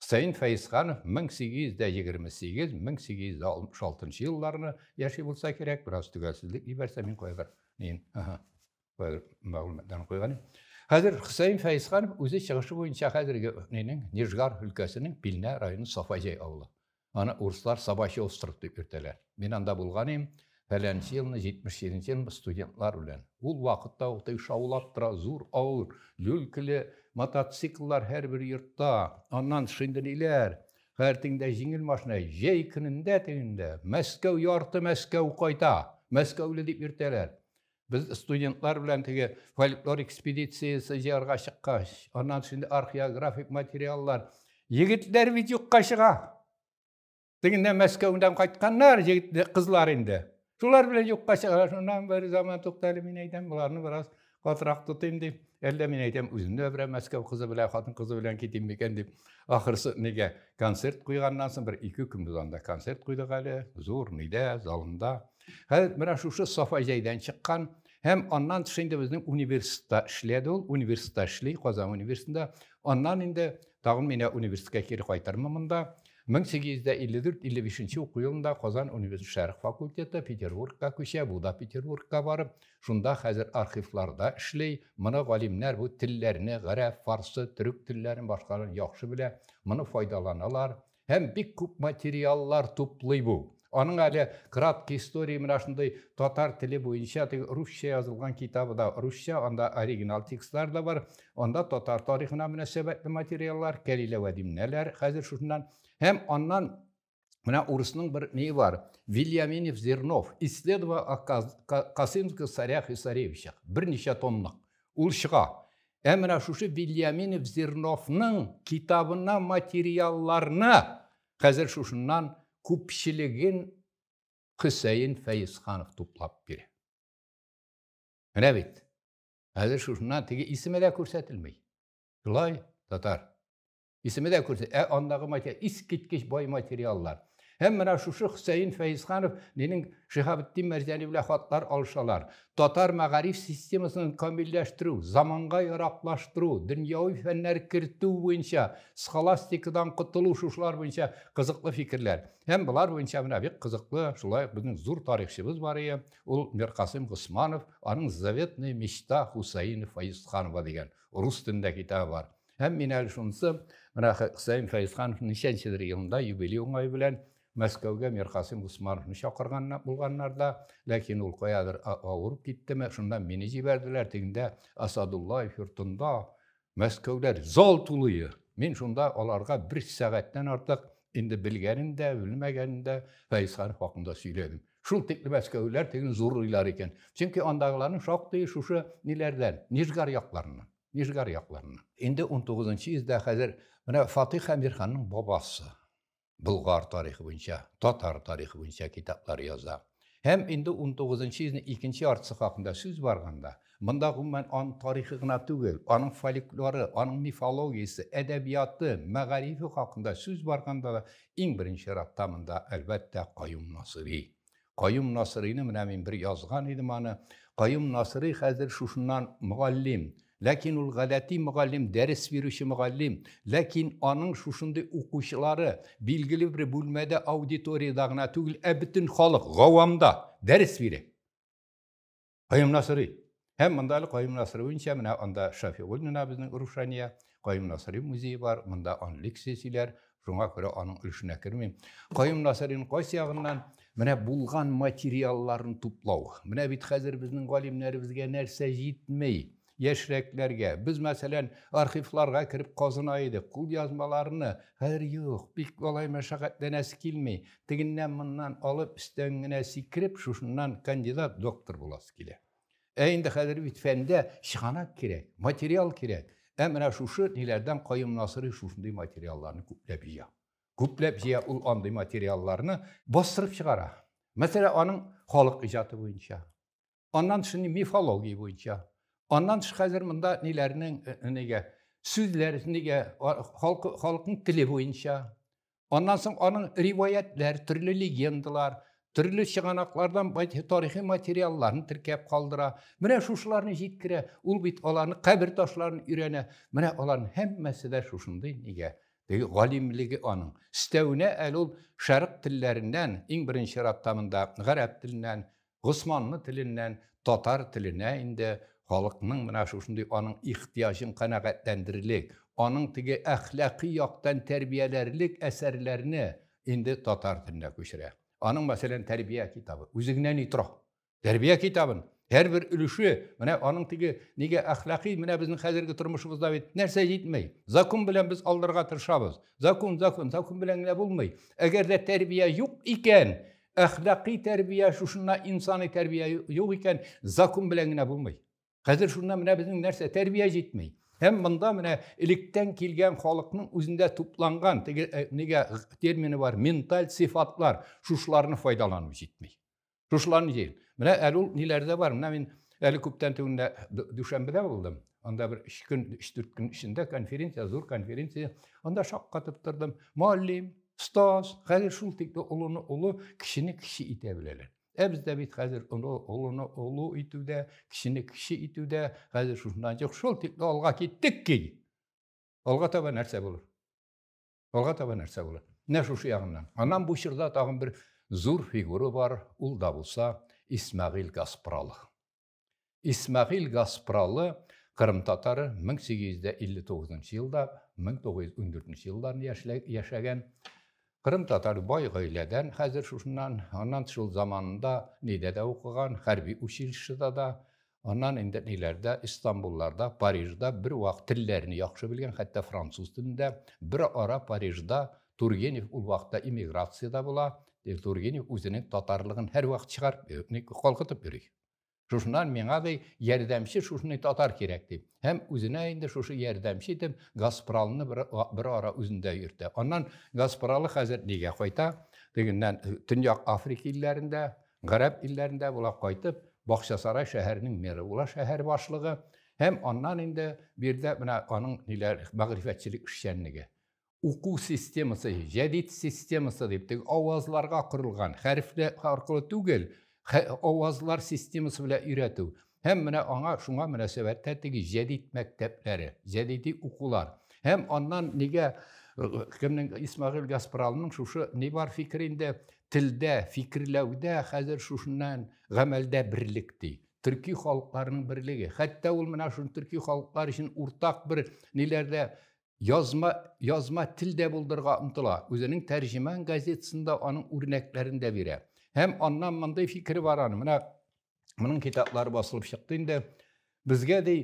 A: Хөсәен Фәезханов 1828-1866 елларны яши булса кирәк, бераз төгәлсезлек җибәрсә, мин кайбер мин, ага, кайбер мәгълүматларны куйган. Хәзер Хөсәен Фәезханов үзе чыгышы буенча хәзерге нинең Нижгар өлкәсенең Пилнә районы Сафаҗай авылы. Аны урыслар Собачий остров дип йөртәләр. Мин анда булган идем, фәләнче елны, 77 нче елны студентлар белән. Ул вакытта ук теге шаулап тора, зур авыр, люлькеле мотоцикллар һәрбер йортта. Аннан шиндериләр, хәертеңдә җиңел машина. Җәй көнендә тегендә, Мәскәү, ярты Мәскәү кайта! Мәскәүле дип йөртәләр. Без студентлар белән теге фольклор экспедициясе җыярга чыккач, аннан шундый археографик материаллар. Егетләр бит юкка чыга. Тегендә Мәскәүдән кайтканнар, егетләр, кызлар инде. Шулар белән юкка чыга. Шуннан бер заман туктале, мин әйтәм, боларны бераз катырак тотыйм дип. Әллә мин әйтәм, үзем дә берәр Мәскәү кызы белән, хатын кызы белән китим микән дип. Ахырсы нигә концерт куйганнан соң бер ике көн без анда концерт куйдык әле, зур нидә, залында. Хәзер менә шушы Сафа җәйдән чыккан һәм аннан тыш инде безнең университетта эшләде ул, университетта эшли, Казан университетында. Аннан инде тагын менә университетка кире кайтырмын монда. 1854-55 уку елында Казан университеты шәрх факультеты Петербургка күчә, бу да Петербургка барып, шунда хәзер архивларда эшли. Моны галимнәр бу телләрне, гарәп, фарсы, төрек телләрен башкаларын яхшы белә, моны файдаланалар. Һәм бик күп материаллар туплый бу. Аның әле краткий история менә шундый татар теле буенча теге русча язылган китабы да русча, анда оригинал текстлар да бар. Анда татар тарихына мөнәсәбәтле материаллар, Кәлилә Вәдимнәләр хәзер шушыннан. Һәм аннан менә урысның бер ни бар, Вильяминев Зернов, исследование о Касымских царях и царевичах, берничә томлык. Ул чыга. Ә менә шушы Вильяминов Зерновның китабына материалларны хәзер шушыннан күпчелеген Хөсәен Фәйзханов туплап бирә. Менә бит. Хәзер шушыннан теге исеме дә күрсәтелми. Шулай, татар. Исеме дә күрсә, ә андагы материал, искиткеч бай материаллар. Һәм менә шушы Хөсәен Фәйзханов нинең Шиһабетдин Мәрҗани белән хатлар алышалар. Татар мәгариф системасын камилләштерү, заманга яраклаштыру, дөньяви фәннәр кертү буенча, схоластикадан котылу шушылар буенча кызыклы фикерләр. Һәм болар буенча менә бик кызыклы, шулай ук безнең зур тарихчыбыз бар ие, ул Миркасым Госманов, аның Заветная мечта Хусаина Фәйзханова дигән рус телендә китабы бар. Һәм мин әле шунысы, менә Хөсәен Фәйзханов ничәнчедер елында юбилей уңай белән Мәскәүгә Миркасым Госмановны чакырган булганнар да, ләкин ул каядыр авырып киттеме, шунда мине җибәрделәр, тегендә Асадуллаев йортында, Мәскәүдә зал тулые. Мин шунда аларга бер сәгатьтән артык инде белгәнен дә, белмәгәнен дә Фәйзхан хакында сөйләдем. Шул тикле мәскәүләр тегін зурлыйлар икән. Чөнки андагыларның шактые шушы ниләрдән, Нижгар якларыннан. Нижгар якларыннан. Инде унтугызынчы йөздә хәзер менә Фатих Әмирханның бабасы Болгар тарихы буенча, татар тарихы буенча китаплар яза. Һәм инде унтугызынчы йөзнең икенче яртысы хакында сүз барганда, монда гомумән аның тарихы гына түгел, аның фольклоры, аның мифологиясе, әдәбияты, мәгарифе хакында сүз барганда да иң беренче чиратта монда, әлбәттә, Каюм Насыйри. Каюм Насыйрыйны менә мин бер язган идем аны. Каюм Насыйрый хәзер шушыннан мөгаллим. Ләкин ул гадәти мөгаллим, дәрес бирүче мөгаллим. Ләкин аның шушындый укучылары билгеле бер бүлмәдә, аудиториядә генә түгел, ә бөтен халык, гавамда дәрес бирә. Кайым Насыри. Һәм монда әле Кайым Насыри буенча менә анда Шафигуль менә безнең Рушания, Кайым Насыри музее бар, монда аны лекция сөйләр, шуңа күрә аның өлешенә кермим. Кайым Насырин кайсы ягыннан менә булган материалларын туплау. Менә бит хәзер безнең галимнәребезгә нәрсә җитми. яшьрәкләргә. Без, мәсәлән, архивларга кереп казына идек, кулъязмаларны, хәзер юк, бик алай мәшәкатьләнәсе килми, тегеннән-моннан алып, өстән генә сикереп, шушыннан кандидат, доктор буласы килә. Ә инде хәзер бит фәндә чыганак кирәк, материал кирәк. Ә менә шушы ниләрдән Каюм Насыйри шушындый материалларны күпләп җыя. Күпләп җыя ул андый материалларны бастырып чыгара. Мәсәлән, аның халык иҗаты буенча, аннан тыш мифология буенча аннан тыш хәзер монда ниләрнең э, э, нигә сүзләр нигә халк халыкның теле буенча аннан соң аның риваятьләр төрле легендалар төрле чыганаклардан тарихи материалларын теркәп калдыра менә шушыларны җиткерә ул бит аларны кабер ташларын өйрәнә менә аларның һәммәсе дә шушындый нигә теге галимлеге аның өстәвенә әле ул шәрык телләреннән иң беренче чиратта монда гарәп теленнән Госманлы теленнән татар теленә инде халыкның менә шушындый аның ихтыяҗын канәгатьләндерерлек, аның теге әхлакый яктан тәрбияләрлек әсәрләрне инде татар теленә күчерә. Аның, мәсәлән, тәрбия китабы, үзе генә ни тора. Тәрбия китабын һәрбер өлеше менә аның теге нигә әхлакый менә безнең хәзерге тормышыбызда бит нәрсә җитмәй закон белән без алдырырга тырышабыз закон закон закон белән генә булмый әгәр дә тәрбия юк икән Әхлакый тәрбия, шушында инсаны тәрбия юк икән, закон белән генә булмый. Хәзер шунда менә безнең нәрсә тәрбия җитмей. Һәм монда менә электән килгән халыкның үзендә тупланган теге э, нигә термины бар, менталь сифатлар, шушларны файдалану җитми. Шушларны җил. Менә әле ул ниләрдә бар. Менә мин әле күптән түгендә Дүшәмбедә булдым. Анда бер үч көн, өч-дүрт көн эчендә конференция, зур конференция. Анда шаккатып тордым. Мөгаллим, остаз, хәзер шул тикле олыны олы, кешене кеше итә беләләр. Ә бездә бит хәзер олы, олыны олы итүдә, кешене кеше итүдә, хәзер шушыннан чык, шул тикле алга киттек ки. Алга таба нәрсә булыр? Алга таба нәрсә булыр? Менә шушы ягыннан. Аннан бу чорда тагын бер зур фигура бар, ул да булса Исмәгыйль Гаспралов. Исмәгыйль Гаспралы Кырым татары 1859 елда 1914 елларны яшәгән Кырым татар бай гаиләдән хәзер шушыннан, аннан шул заманында нидә дә укыган, хәрби училищеда да, аннан инде ниләрдә, Истанбулларда, Парижда бер вак телләрне яхшы белгән, хәтта француз телендә, бер ара Парижда Тургенев ул вакытта эмиграцияда була, Тургенев үзенең татарлыгын һәрвакыт чыгарып, калкытып йөри. Шушыннан миңа ди, ярдәмче шушындый татар кирәк ди. Һәм үзенә инде шушы ярдәмче итеп Гаспралны бер, бер ара үзендә йөртә. Аннан Гаспралы хәзер нигә кайта? Тегеннән э, Төньяк Африка илләрендә, гарәп илләрендә була кайтып, Бакчасарай шәһәренең мэры була, шәһәр башлыгы. Һәм аннан инде биредә менә аның ниләр, мәгърифәтчелек эшчәнлеге. уку системасы, җәдид системасы дип, теге авазларга корылган, хәрефләр аркылы түгел, авазлар системасы белән өйрәтү. Һәм менә аңа шуңа мөнәсәбәттә теге җәдид мәктәпләре, җәдиди укулар. Һәм аннан нигә э, кемнең Исмагыйль Гаспаралының шушы ни бар фикер инде телдә, фикерләүдә хәзер шушыннан гамәлдә берлек ди төрки халыкларның берлеге хәтта ул менә шул төрки халыклар өчен уртак бер ниләрдә Язма, язма тел дә булдырга омтыла. Үзенең тәрҗемән газетасында аның үрнәкләрен дә бирә. Һәм аннан мондый фикер бар аны. Менә моның китаплары басылып чыкты инде. Безгә ди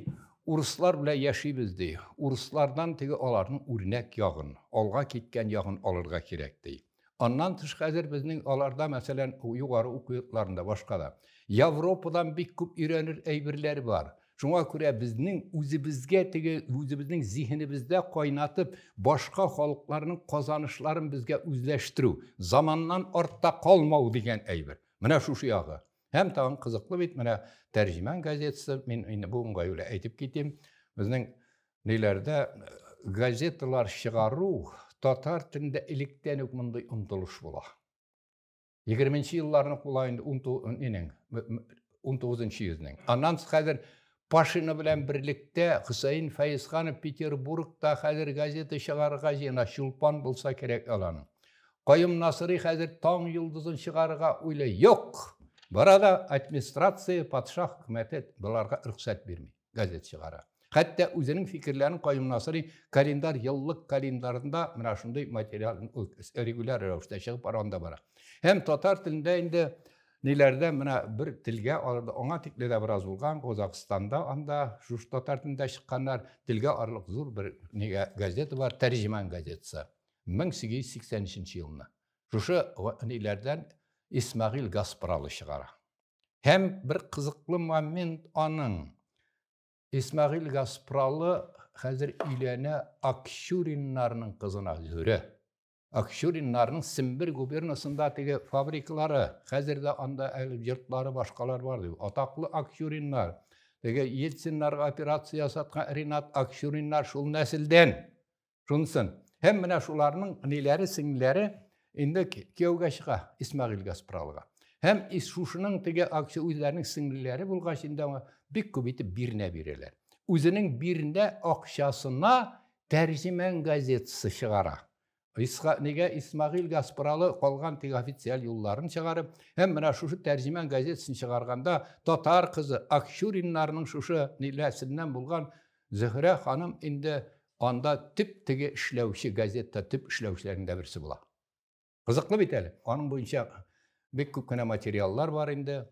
A: урыслар белән яшибез ди. Урыслардан теге аларның үрнәк ягын, алга киткән ягын алырга кирәк ди. Аннан тыш хәзер безнең аларда, мәсәлән, югары уку йортларында, башка да. Европадан бик күп өйрәнер әйберләр бар. Шуңа күрә безнең үзебезгә теге үзебезнең зиһенебездә кайнатып, башка халыкларның казанышларын безгә үзләштерү, заманнан артта калмау дигән әйбер. Менә шушы ягы. Һәм тагын кызыклы бит, менә Тәрҗемән газетасы, мин инде бу уңай белән әйтеп китим, безнең Ниләрдә газеталар чыгару татар телендә электән үк мондый омтылыш була. 20-нче елларның кулаен 19-нчы йөзнең. Аннан хәзер Пашина белән берлектә Хөсәен Фәйзханов Петербургта хәзер газета чыгарырга җыена, чулпан булса кирәк алан. Каюм Насырый хәзер таң йолдызын чыгарырга уйлый. Юк! Барада администрация, патша хөкүмәте боларга рөхсәт бирми. газет чыгара. Хәтта үзенең фикерләрен каюына сорый, календарь еллык календарында менә шундый материал регуляр рәвештә чыгып барган да бара. Һәм татар телендә инде ниләрдә менә бер телгә аңа тикле дә бераз булган Казахстанда анда шушы татар телендә чыкканнар телгә арлык зур бер нигә газета бар Тәрҗеман газетасы 1883 елны. Шушы ниләрдән Исмагил Гаспралы чыгара. Һәм бер кызыклы момент аның Исмагил Гаспралы хәзер өйләнә Акчуриннарның кызына Зөрә. Акчуриннарның Сембер губернасында теге фабриклары, хәзер дә анда әле йортлары башкалар бар ди. Атаклы Акчуриннар, теге Ельциннарга операция ясаткан Ренат Акчуриннар шул нәселдән. шунсын һәм менә шуларның ниләре сеңлеләре инде кияүгә чыга исмәгыйль гаспралга һәм шушының теге акция үзләренең сеңлеләре булгач инде аңа бик күп итеп бирнә бирәләр үзенең бирнә акчасына тәрҗемән газетасы чыгара нигә исмәгыйль гаспралы калган теге официаль юлларын чыгарып һәм менә шушы тәрҗемән газетасын чыгарганда татар кызы акчуриннарның шушы ниләсеннән булган Зөһрә ханым инде анда төп теге эшләүче, газетта төп эшләүчеләрнең дә берсе була. Кызыклы бит әле. Аның буенча бик күп кенә материаллар бар инде.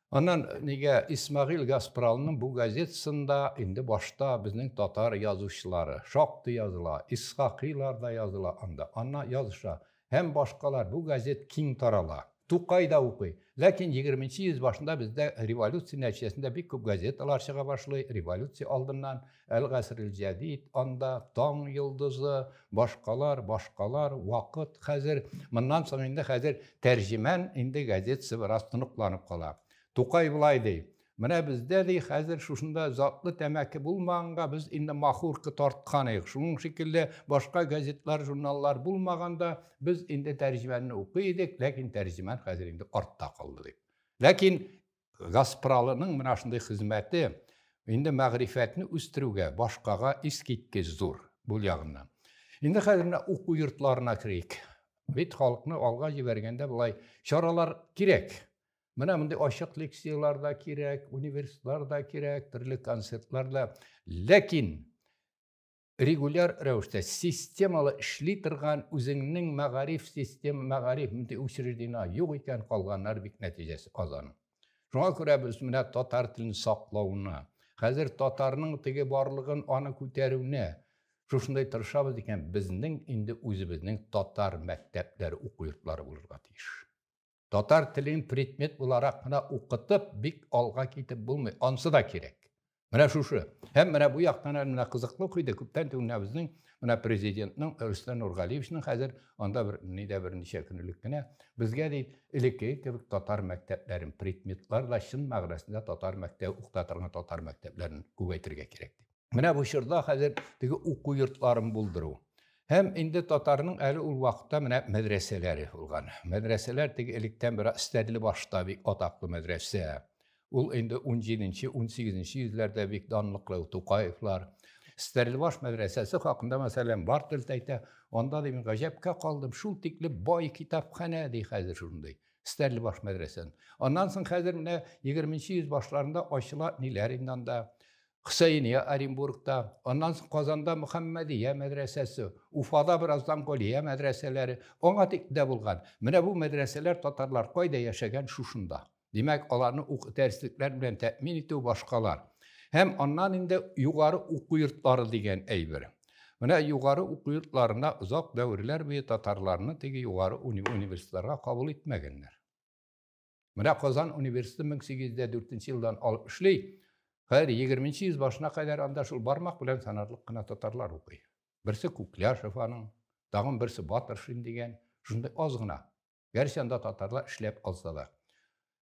A: Аннан нигә Исмагил Гаспралның бу газетасында инде башта безнең татар язучылары шактый языла, Исхакыйлар да языла анда. Анна языша, Һәм башкалар, бу газет киң тарала. Тукай да укый. Ләкин егерменче йөз башында бездә революция нәтиҗәсендә бик күп газеталар чыга башлый, революция алдыннан, Әл-Гасрел-Җәдид, анда, Таң йолдызы, башкалар, башкалар, Вакыт, хәзер, моннан соң инде хәзер Тәрҗемән инде газетасы бераз тоныкланып кала. Тукай болай ди, Менә бездә, ди, хәзер шушында затлы тәмәке булмаганга, без инде махорка тарткан идек. Шуның шикелле, башка газетлар, журналлар булмаганда, без инде тәрҗемәнне укый идек, ләкин тәрҗемән хәзер инде артта калды, дип. Ләкин Гаспралының менә шундый хезмәте инде мәгърифәтне үстерүгә, башкага искиткеч зур бу ягыннан. Инде хәзер менә уку йортларына керик. Бит халыкны алга җибәргәндә болай чаралар кирәк. Менә мондый ачык лекцияләр дә кирәк, университетлар да кирәк, төрле концертлар да. Ләкин регуляр рәвештә системалы эшли торган үзеңнең мәгариф систем, мәгариф мондый учреждение юк икән, калганнар бик нәтиҗәсе аз аның. Шуңа күрә без менә татар телен саклауына, хәзер татарның теге барлыгын аны күтәрүне шушындай тырышабыз икән, безнең инде үзебезнең татар мәктәпләре, уку йортлары булырга тиеш. Татар телен предмет буларак кына укытып, бик алга китеп булмый. Ансы да кирәк. Менә шушы. Һәм менә бу яктан әле менә кызыклы ук иде, күптән түгел менә безнең менә президентның Рөстәм Нургалиевичның хәзер анда бер нидә берничә көн элек кенә безгә ди элекке кебек татар мәктәпләрен предметлар да чын мәгънәсендә татар мәктәбе укыта торган татар мәктәпләрен күбәйтергә кирәк дип. Менә бу чорда хәзер теге уку йортларын булдыру. Һәм инде татарның әле ул вакытта менә мәдрәсәләре булган. Мәдрәсәләр теге электән бер Стәрле башта бик атаклы мәдрәсә. Ул инде 17-18 йөзләрдә бик данлыклы Тукаевлар. Стәрлебаш мәдрәсәсе хакында мәсәлән Бартельд әйтә, анда ди мин гаҗәпкә калдым, шул тикле бай китапханә ди хәзер шундый. Стәрлебаш мәдрәсәсен. Аннан соң хәзер менә 20 йөз башларында ачыла ниләр инде анда. Хөсәения Оренбургта, аннан соң Казанда Мөхәммәдия мәдрәсәсе, Уфада бераздан Галия мәдрәсәләре, аңа тик дә булган. Менә бу мәдрәсәләр татарлар кайда яшәгән, шушында. Димәк, аларны уку дәреслекләр белән тәэмин итү башкалар. Һәм аннан инде югары уку йортлары дигән әйбер. Менә югары уку йортларына озак дәверләр буе татарларны теге югары уни университетларга кабул итмәгәннәр. Менә Казан университеты 1804 елдан алып эшли. Хәзер 20 йөз башына кадәр анда шул бармак белән санарлык кына татарлар укый. Берсе Кукляшев аның, тагын берсе Батыршин дигән, шундый аз гына. Гәрчә анда татарлар эшләп алса да.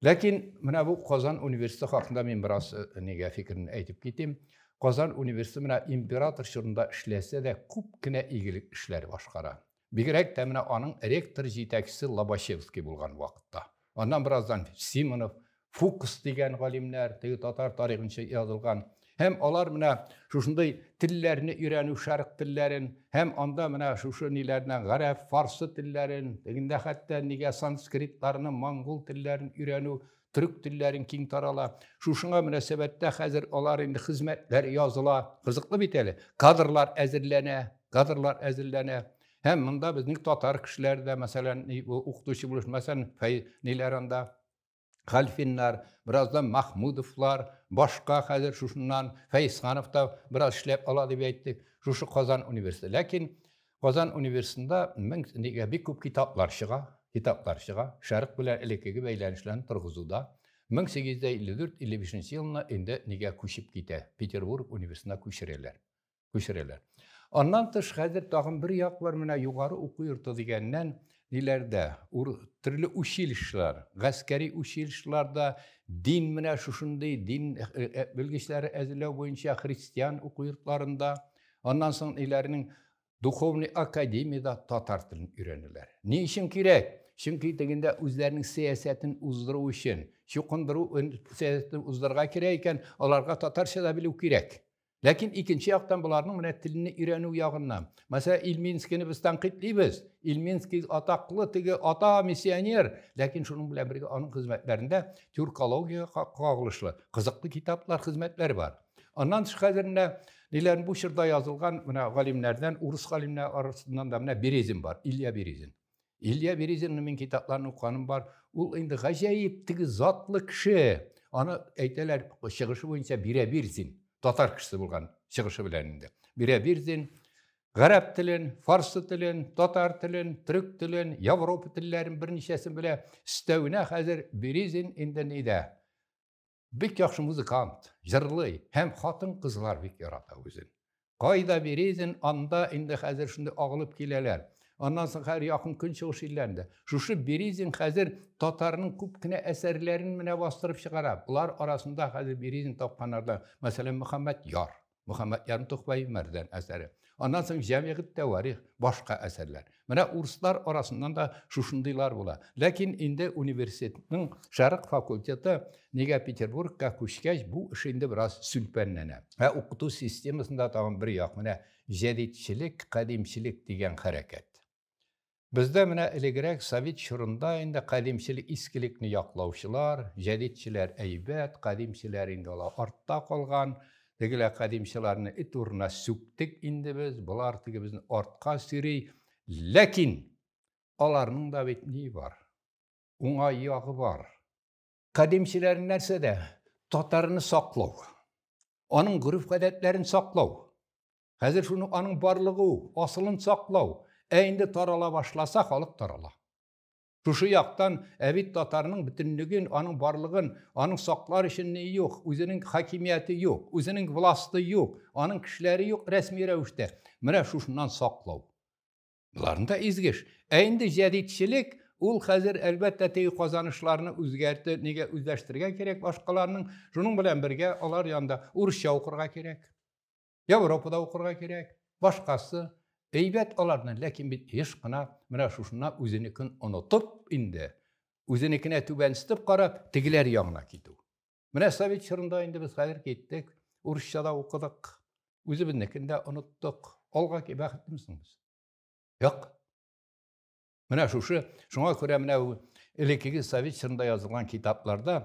A: Ләкин менә бу Казан университеты хакында мин бераз э, нигә фикерне әйтеп китим. Казан университеты менә император чорында эшләсә дә күп кенә игелек эшләр башкара. Бигрәк тә менә аның ректор җитәкчесе Лобачевский булган вакытта. Аннан бераздан Симонов, Фукс дигән галимнәр, теге татар тарихынча язылган. Һәм алар менә шушындый телләрне өйрәнү, шәрык телләрен, һәм анда менә шушы ниләрне, гарәп, фарсы телләрен, тегендә хәтта нигә санскритларны, монгол телләрен өйрәнү, төрек телләрен киң тарала шушыңа мөнәсәбәттә хәзер алар инде хезмәтләр языла кызыклы бит әле кадрлар әзерләнә кадрлар әзерләнә һәм монда безнең татар кешеләре дә мәсәлән укытучы булыш мәсәлән ниләр анда хәлфиннар бераздан махмудовлар башка хәзер шушыннан фәйсханов та бераз эшләп ала дип әйтте шушы казан университеты ләкин Казан университетында мең нигә бик күп китаплар чыга, китаплар чыга, Шәрык белән элеккеге бәйләнешләрне торгызуда. Мең сигез дә илле дүрт, илле бишенче елына инде нигә күчеп китә, Петербург университетына күчерәләр, күчерәләр. Аннан тыш, хәзер тагын бер як бар, менә югары уку йорты дигәннән, ниләрдә, ур, төрле училищелар, гаскәри училищеларда дин менә шушындый дин белгечләре әзерләү буенча христиан уку йортларында, Аннан соң иләрнең духовный академияда татар телен өйрәнәләр. Ни өчен кирәк? Чөнки тегендә үзләренең сәясәтен уздыру өчен, чукындыру сәясәтен уздырырга кирәк икән, аларга татарча да белү кирәк. Ләкин икенче яктан боларның менә телне өйрәнү ягыннан. Мәсә Илминскийны без танкыйтлыйбыз. Илминский атаклы теге ата миссионер, ләкин шуның белән бергә аның хезмәтләрендә тюркологиягә кагылышлы кызыклы китаплар, хезмәтләр бар. Аннан хәзеренә ниләрен бу чорда язылган менә галимнәрдән, урыс галимнәре арасыннан да менә Березин бар, Илья Березин. Илья Березинның мин китапларын укыганым бар. Ул инде гаҗәеп теге затлы кеше. Аны әйтәләр, чыгышы буенча Бирәбирзин, татар кешесе булган чыгышы белән инде. Бирәбирзин гарәп телен, фарсы телен, татар телен, төрек телен, Европа телләрен берничәсен белә. Өстәвенә хәзер Березин инде нидә? Бик яхшы музыкант, җырлый һәм хатын-кызлар бик ярата үзен. Кайда Березин, анда инде хәзер шундый агылып киләләр. Аннан соң хәзер якын көнчыгыш илләрендә. Шушы Березин хәзер татарның күп кенә әсәрләрен менә бастырып чыгара. Болар арасында хәзер Березин тапканнарда, мәсәлән, Мөхәммәд Яр. Мөхәммәд Ярмтухбай Мәрдән әсәре. Аннан соң җәмигъ тәварих, башка әсәрләр. Менә урыслар арасыннан да шушындыйлар була. Ләкин инде университетның шәрык факультеты нигә Петербургка күчкәч, бу эш инде бераз сүлпәнләнә. Ә укыту системасында тагын бер як, менә җәдидчелек, кадимчелек дигән хәрәкәт. Бездә менә элегрәк совет чорында инде кадимчелек искелекне яклаучылар, җәдидчеләр әйбәт, кадимчеләр инде алар артта калган, тегеләр кадимчыларны эт урынына сүктек инде без, болар теге безне артка сөри. Ләкин аларның да бит ни бар? Уңай ягы бар. Кадимчеләр нәрсәдә? Татарны саклау. Аның гореф-гадәтләрен саклау. Хәзер шуның аның барлыгы ул, асылын саклау. Ә инде тарала башласа, халык тарала. Шушы яктан әбит татарның бөтенлеген, аның барлыгын, аның саклар өчен ни юк, үзенең хакимияте юк, үзенең власты юк, аның кешеләре юк рәсми рәвештә. Менә шушыннан саклау. Боларында изгеш. Ә инде җәдитчелек ул хәзер әлбәттә теге казанышларны үзгәртү, нигә үзләштерергә кирәк башкаларның, шуның белән бергә алар янында урысча укырга кирәк. Европада укырга кирәк, башкасы. Әйбәт аларны, ләкин бит еш кына менә шушына үзенекен онытып инде, үзенекенә түбәнстеп карап, тегеләр ягына китү. Менә совет чорында инде без хәзер киттек, урысча да укыдык, үзебезнекен дә оныттык. Алга бәхетлемсең без? Юк. Менә шушы, шуңа күрә менә элеккеге совет чорында язылган китапларда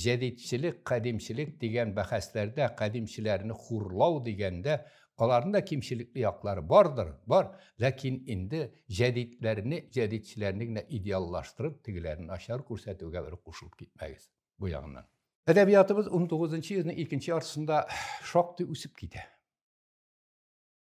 A: җәдидчелек, кадимчелек дигән бәхәсләрдә кадимчеләрне хурлау дигәндә аларның да кимчелекле яклары бардыр, бар, ләкин инде җәдидләрне, җәдидчеләрне генә идеаллаштырып, тегеләрне начар күрсәтүгә бер кушылып китмәгез бу ягыннан. Әдәбиятыбыз 19 йөзнең икенче яртысында шактый үсеп китә.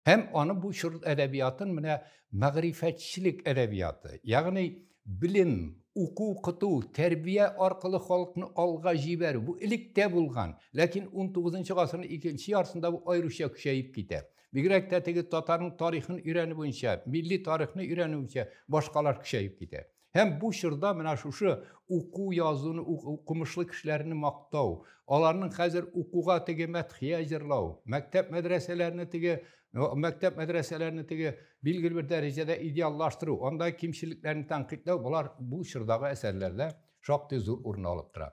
A: Һәм аны бу чор әдәбиятын менә мәгърифәтчелек әдәбияты, ягъни белем, уку, укыту, тәрбия аркылы халыкны алга җибәрү. Бу элек тә булган, ләкин 19 гасырның икенче ярсында бу аеруча көчәеп китә. Бигрәк тә теге татарның тарихын өйрәнү буенча, милли тарихны өйрәнү буенча башкалар көчәеп китә. Һәм бу чорда менә шушы уку язуны укымышлы кешеләрне мактау, аларның хәзер укуга теге мәдхия җырлау, мәктәп мәдрәсәләрне теге мәктәп мәдрәсәләрне теге билгеле бер дәрәҗәдә идеаллаштыру, анда кимчелекләрне тәнкыйтьләү, болар бу чордагы әсәрләрдә шактый зур урын алып тора.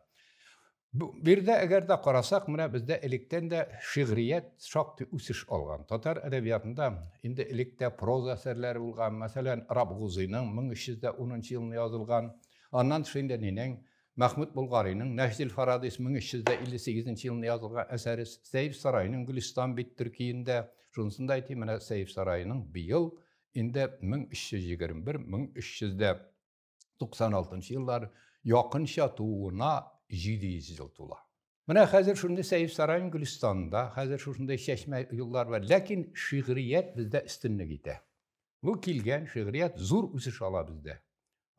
A: Бу бердә әгәр дә карасак, менә бездә электән дә шигърият шактый үсеш алган. Татар әдәбиятында инде электә проза әсәрләре булган, мәсәлән, Рабгузыйның 1310 елында язылган, аннан тыш инде нинең Мәхмүд Болгариның Нәҗдил Фарадис 1358 елында язылган әсәре, Сәйф Сарайның Гөлистан бит төркиендә, шунысын да әйтим, менә Сәйф Сарайның быел инде 1321-1300 дә 96 еллар якынча тууына 700 ел тула. Менә хәзер шундый Сәйф Сарайм Гөлстанда, хәзер шушындай чәчмә юллар бар. Ләкин шигърият бездә өстенлек итә. Бу килгән шигърият зур үсеш ала бездә.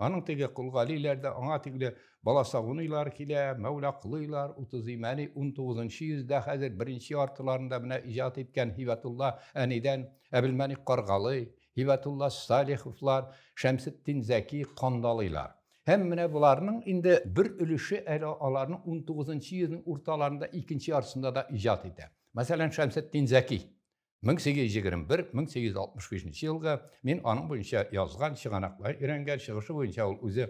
A: Аның теге Кулгалиләр дә, аңа тикле Баласагуныйлар килә, Мәүлакулыйлар, Утызыймәни 19 йөздә хәзер беренче яртыларында менә иҗат иткән Һибәтулла әнидән, Әбелмәник Каргалый, Һибәтулла Салиховлар, Шәмсетдин Зәки кандалыйлар. Һәм менә боларның инде бер өлеше әле аларның 19 йөзнең урталарында, икенче яртысында да иҗат итә. Мәсәлән, Шәмсетдин Зәки 1821-1865 елгы мин аның буенча язган, чыганаклар өйрәнгән, чыгышы буенча ул үзе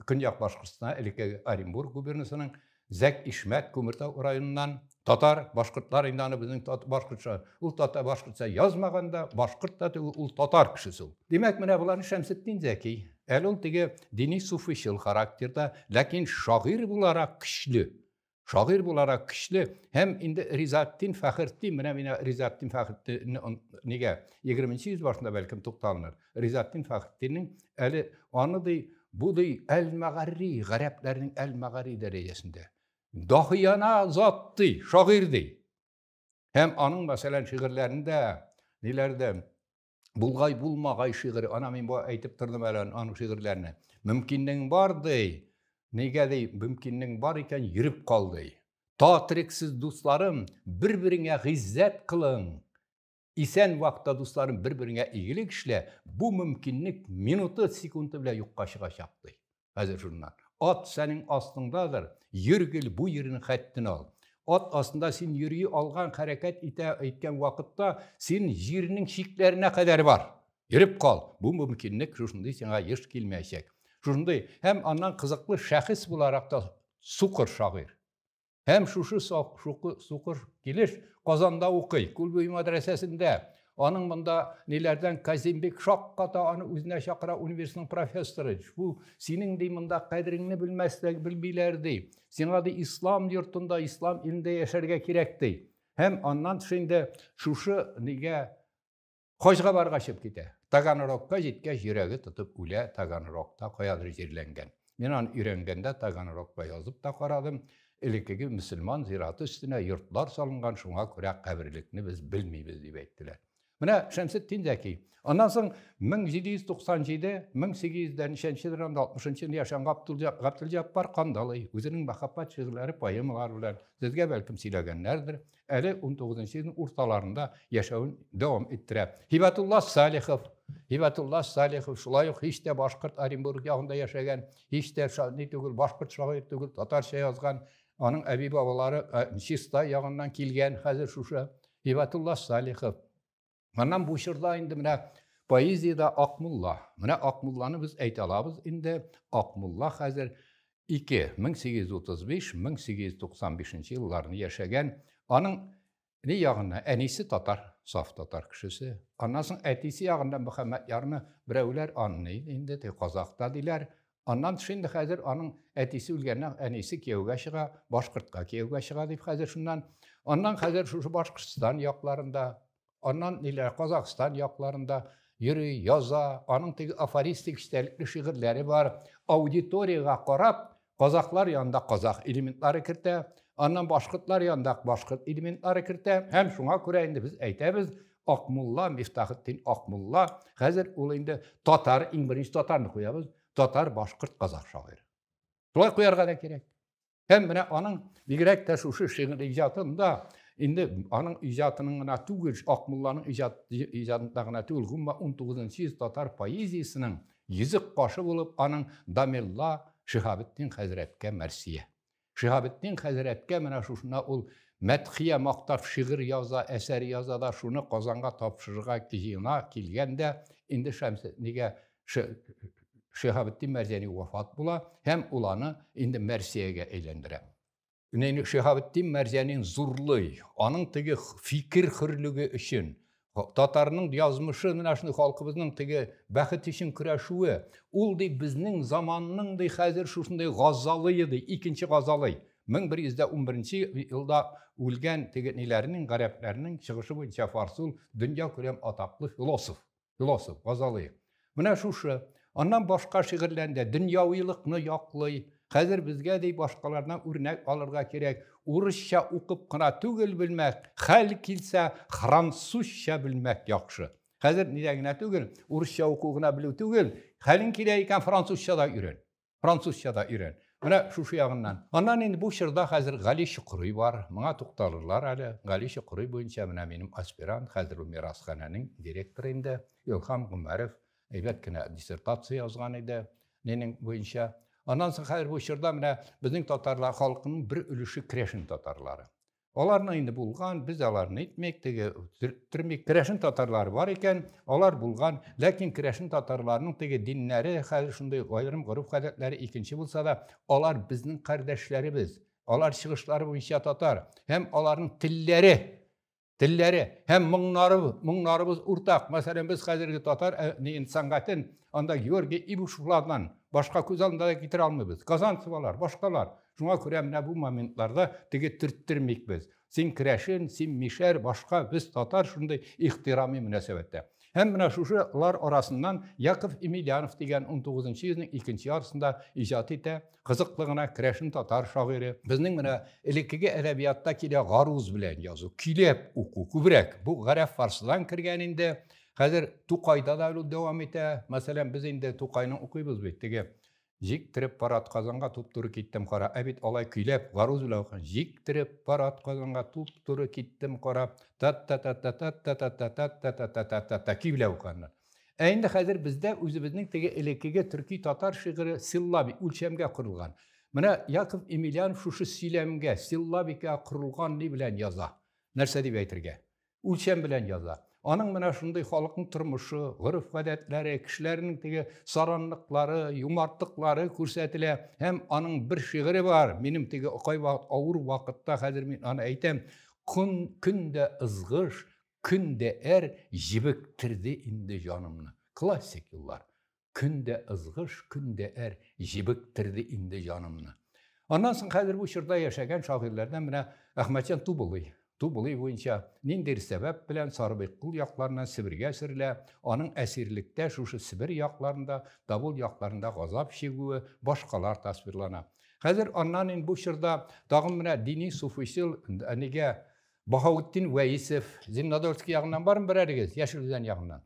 A: Көньяк Башкортстан, элеккеге Оренбург губернасының Зәк Ишмәт, Күмертау районыннан, Татар, башкортлар инде аны безнең башкортча, ул татар башкортча язмаган да, башкорт та түгел, ул татар кешесе ул. Димәк, менә боларны Шәмсетдин Зәки, әле ул теге дини суфыйчыл характерда, ләкин шагыйрь буларак көчле, шагыйрь буларак көчле һәм инде Ризаттин Фәхертдин, менә мин Ризаттин Фәхертдинне нигә 20 нче йөз башында бәлкем тукталыныр. Ризатдин Фәхретдиннең әле аны ди, бу ди әл-мәгарри, гарәпләрнең әл-мәгарри дәрәҗәсендә. Дахияна зат ди, шагыйрь ди. Һәм аның, мәсәлән, шигырьләрендә, ниләрдә, булгай булмагай шигыре, ана мин бу әйтеп тордым әле аның шигырьләренә. Мөмкиннең бар ди, нигә ди, мөмкиннең бар икән, йөреп кал ди. Татриксез дусларым, бер-береңә гыйззәт кылың. Исән вакытта дусларым бер-береңә игелек эшлә, бу мөмкинлек минуты, секунды белән юкка чыгачак, ди. Хәзер шуннан. Ат сәнең астыңдадыр, йөр гел бу йирнең хәттен ал. Ат астында син йөри алган, хәрәкәт итә иткән вакытта син җирнең чикләренә кадәр бар. Йөреп кал, бу мөмкинлек шушындый сиңа еш килмәячәк. Шушындый һәм аннан кызыклы шәхес буларак та сукыр шагыйрь. Һәм шушы шушы сукыр килеш Казанда укый, Күлбуй мәдрәсәсендә. Аның монда ниләрдән Казимбек шакката аны үзенә чакыра университетның профессоры. Бу синең ди монда кадереңне белмәсләр, белмиләр ди. Сиңа ди ислам йортында, ислам илендә яшәргә кирәк ди. Һәм аннан тыш инде шушы нигә Хаҗга баргачып китә. Таганрогка җиткәч, йөрәге тотып үлә, Таганрогта каядыр җирләнгән. Мин аны өйрәнгәндә Таганрогка язып та карадым. Элеккеге мөселман зираты өстенә йортлар салынган, шуңа күрә каберлекне без белмибез, дип әйттеләр. Менә Шәмсетдин Зәки. Аннан соң 1797-1800 ничәнче елларда 60 елда яшәгән Габдулҗаппар Кандалый үзенең мәхәббәт шигырьләре, поэмалары белән сезгә бәлкем сөйләгәннәрдер. әле унтугызынчы елның урталарында яшәвен дәвам иттерә һибәтулла салихов һибәтулла салихов шулай ук һич тә башкорт оренбург ягында яшәгән һич тә ни түгел башкорт шагыйрь түгел татарча язган аның әби бабалары чистай ягыннан килгән хәзер шушы һибәтулла салихов Моннан бу чорда инде менә поэзиядә Акмулла. Менә Акмулланы без әйтә алабыз инде. Акмулла хәзер 2-1835-1895 елларны яшәгән. Аның ни ягына әнисе татар, саф татар кешесе. Аннан соң әтисе ягында Мөхәммәд ярны берәүләр анны инде казакта диләр. Аннан тыш инде хәзер аның әтисе үлгәннән әнисе кияүгә чыга, башкортка кияүгә чыга дип хәзер шуннан. Аннан хәзер шушы Башкортстан якларында, аннан ниләр Казахстан якларында йөри, яза, аның теге афористик истәлекле шигырьләре бар. Аудиториягә карап, казахлар янында казах элементлары кертә, аннан башкортлар янында башкорт элементлары кертә. Һәм шуңа күрә инде без әйтәбез, Акмулла, Мифтахетдин Акмулла, хәзер ул инде татар, иң беренче татарны куябыз, татар, башкорт, казах шагыйре. Шулай куярга да кирәк. Һәм менә аның бигрәк тә шушы шигырь иҗатында инде аның иҗатының гына түгел, Акмулланың иҗат иҗатында гына түгел, гомма 19 йөз татар поэзиясенең йөзек кашы булып аның Дамелла Шиһабетдин хәзрәткә мәрсия. Шиһабетдин хәзрәткә менә шушына ул мәдхия мактап шигырь яза, әсәр яза да шуны Казанга тапшырырга җыена килгәндә, инде Шәмсетнигә Шиһабетдин Мәрзәни вафат була һәм ул аны инде Мәрсиягә әйләндерә. Шиһабетдин Мәрзәнин зурлый, аның теге фикер хөрлеге өчен Татарның язмышы менә шундый халкыбызның теге бәхет өчен көрәшүе. Ул ди безнең заманның ди хәзер шушындый газалые ди, икенче газалый. 1111 елда үлгән теге ниләрнең, гарәпләрнең чыгышы буенча Фарсул дөнья күләм атаклы философ. Философ, газалые. Менә шушы. Аннан башка шигырьләрендә дөньявилыкны яклый. Хәзер безгә ди башкалардан үрнәк алырга кирәк. Урысча укып кына түгел белмәк, хәл килсә, французча белмәк яхшы. Хәзер нидә генә түгел, урысча уку гына белү түгел, хәлең килә икән, французча да өйрән. Французча да өйрән. Менә шушы ягыннан. Аннан инде бу чорда хәзер Гали Чокрый бар. Моңа тукталырлар әле. Гали Чокрый буенча менә минем аспирант, хәзер ул мирасханәнең директоры инде. Илһам Гомәров әйбәт кенә диссертация язган иде Ленин буенча. Аннан соң хәзер бу чорда менә безнең татарлар халкының бер өлеше Крешин татарлары. Аларны инде булган, без аларны әйтмик, теге төрмик. Керәшен татарлары бар икән, алар булган. Ләкин керәшен татарларының теге диннәре, хәзер шундый аерым гореф гадәтләре икенче булса да, алар безнең кардәшләребез. Алар чыгышлары буенча татар һәм аларның телләре телләре һәм моңнары, моңнарыбыз уртак. Мәсәлән, без хәзерге татар э, нин сәнгатен анда Георгий Ибушевлардан башка күз алдында да китерә алмыйбыз. Казанцевалар, башкалар. Шуңа күрә менә бу моментларда теге төрттермик без. Син керәшен, син мишәр, башка, без татар шундый ихтирами мөнәсәбәттә. Һәм менә шушылар арасыннан Яков Емельянов дигән 19 нчы йөзнең икенче ярсында иҗат итә, кызыклы гына керәшен татар шагыйре. Безнең менә элеккеге әдәбиятта килә гаруз белән язу, көйләп уку күбрәк. Бу гарәп фарсыдан кергән инде. Хәзер Тукайда да ул дәвам итә. Мәсәлән, без инде Тукайны укыйбыз бит, теге Җиктереп пар атказанга туп-туры киттем кара. Ә бит алай көйләп, гаруз белән укыган. Җиктереп пар атказанга туп-туры киттем кара. Тат-та-та-та-тат-та-та-та-тат-та-та-та-та-та-та-та көй белән укыганнар. Ә инде хәзер бездә үзебезнең теге элеккеге төрки татар шигыре силлаби, үлчәмгә корылган. Менә Яков Емельянов шушы сөйләмгә, силлабикә корылган ни белән яза? Нәрсә дип әйтергә? үлчәм белән яза. Аның менә шундый халыкның тормышы, гореф-гадәтләре, кешеләрнең теге саранлыклары, юмартлыклары күрсәтелә. Һәм аның бер шигыре бар. Минем теге кайвакыт авыр вакытта хәзер мин аны әйтәм, көн көн дә ызгыш, көн дә әр җебектерде инде җанымны. Классик юллар. Көн дә ызгыш, көн дә әр җебектерде инде җанымны. Аннан соң хәзер бу чорда яшәгән шагыйрьләрдән менә Әхмәтҗан Тубылый. Тубылый буенча ниндидер сәбәп белән Сарыбыйкыл якларына Себергә сөрелә, аның әсирлектә шушы Себер якларында, Давыл якларында газап чигүе, башкалар тасвирлана. Хәзер аннан инде бу чорда тагын менә дини суфыйчыл әнигә Баһаутдин Вәисов, Зимнодольский ягыннан бармы берәрегез, Яшел Үзән ягыннан?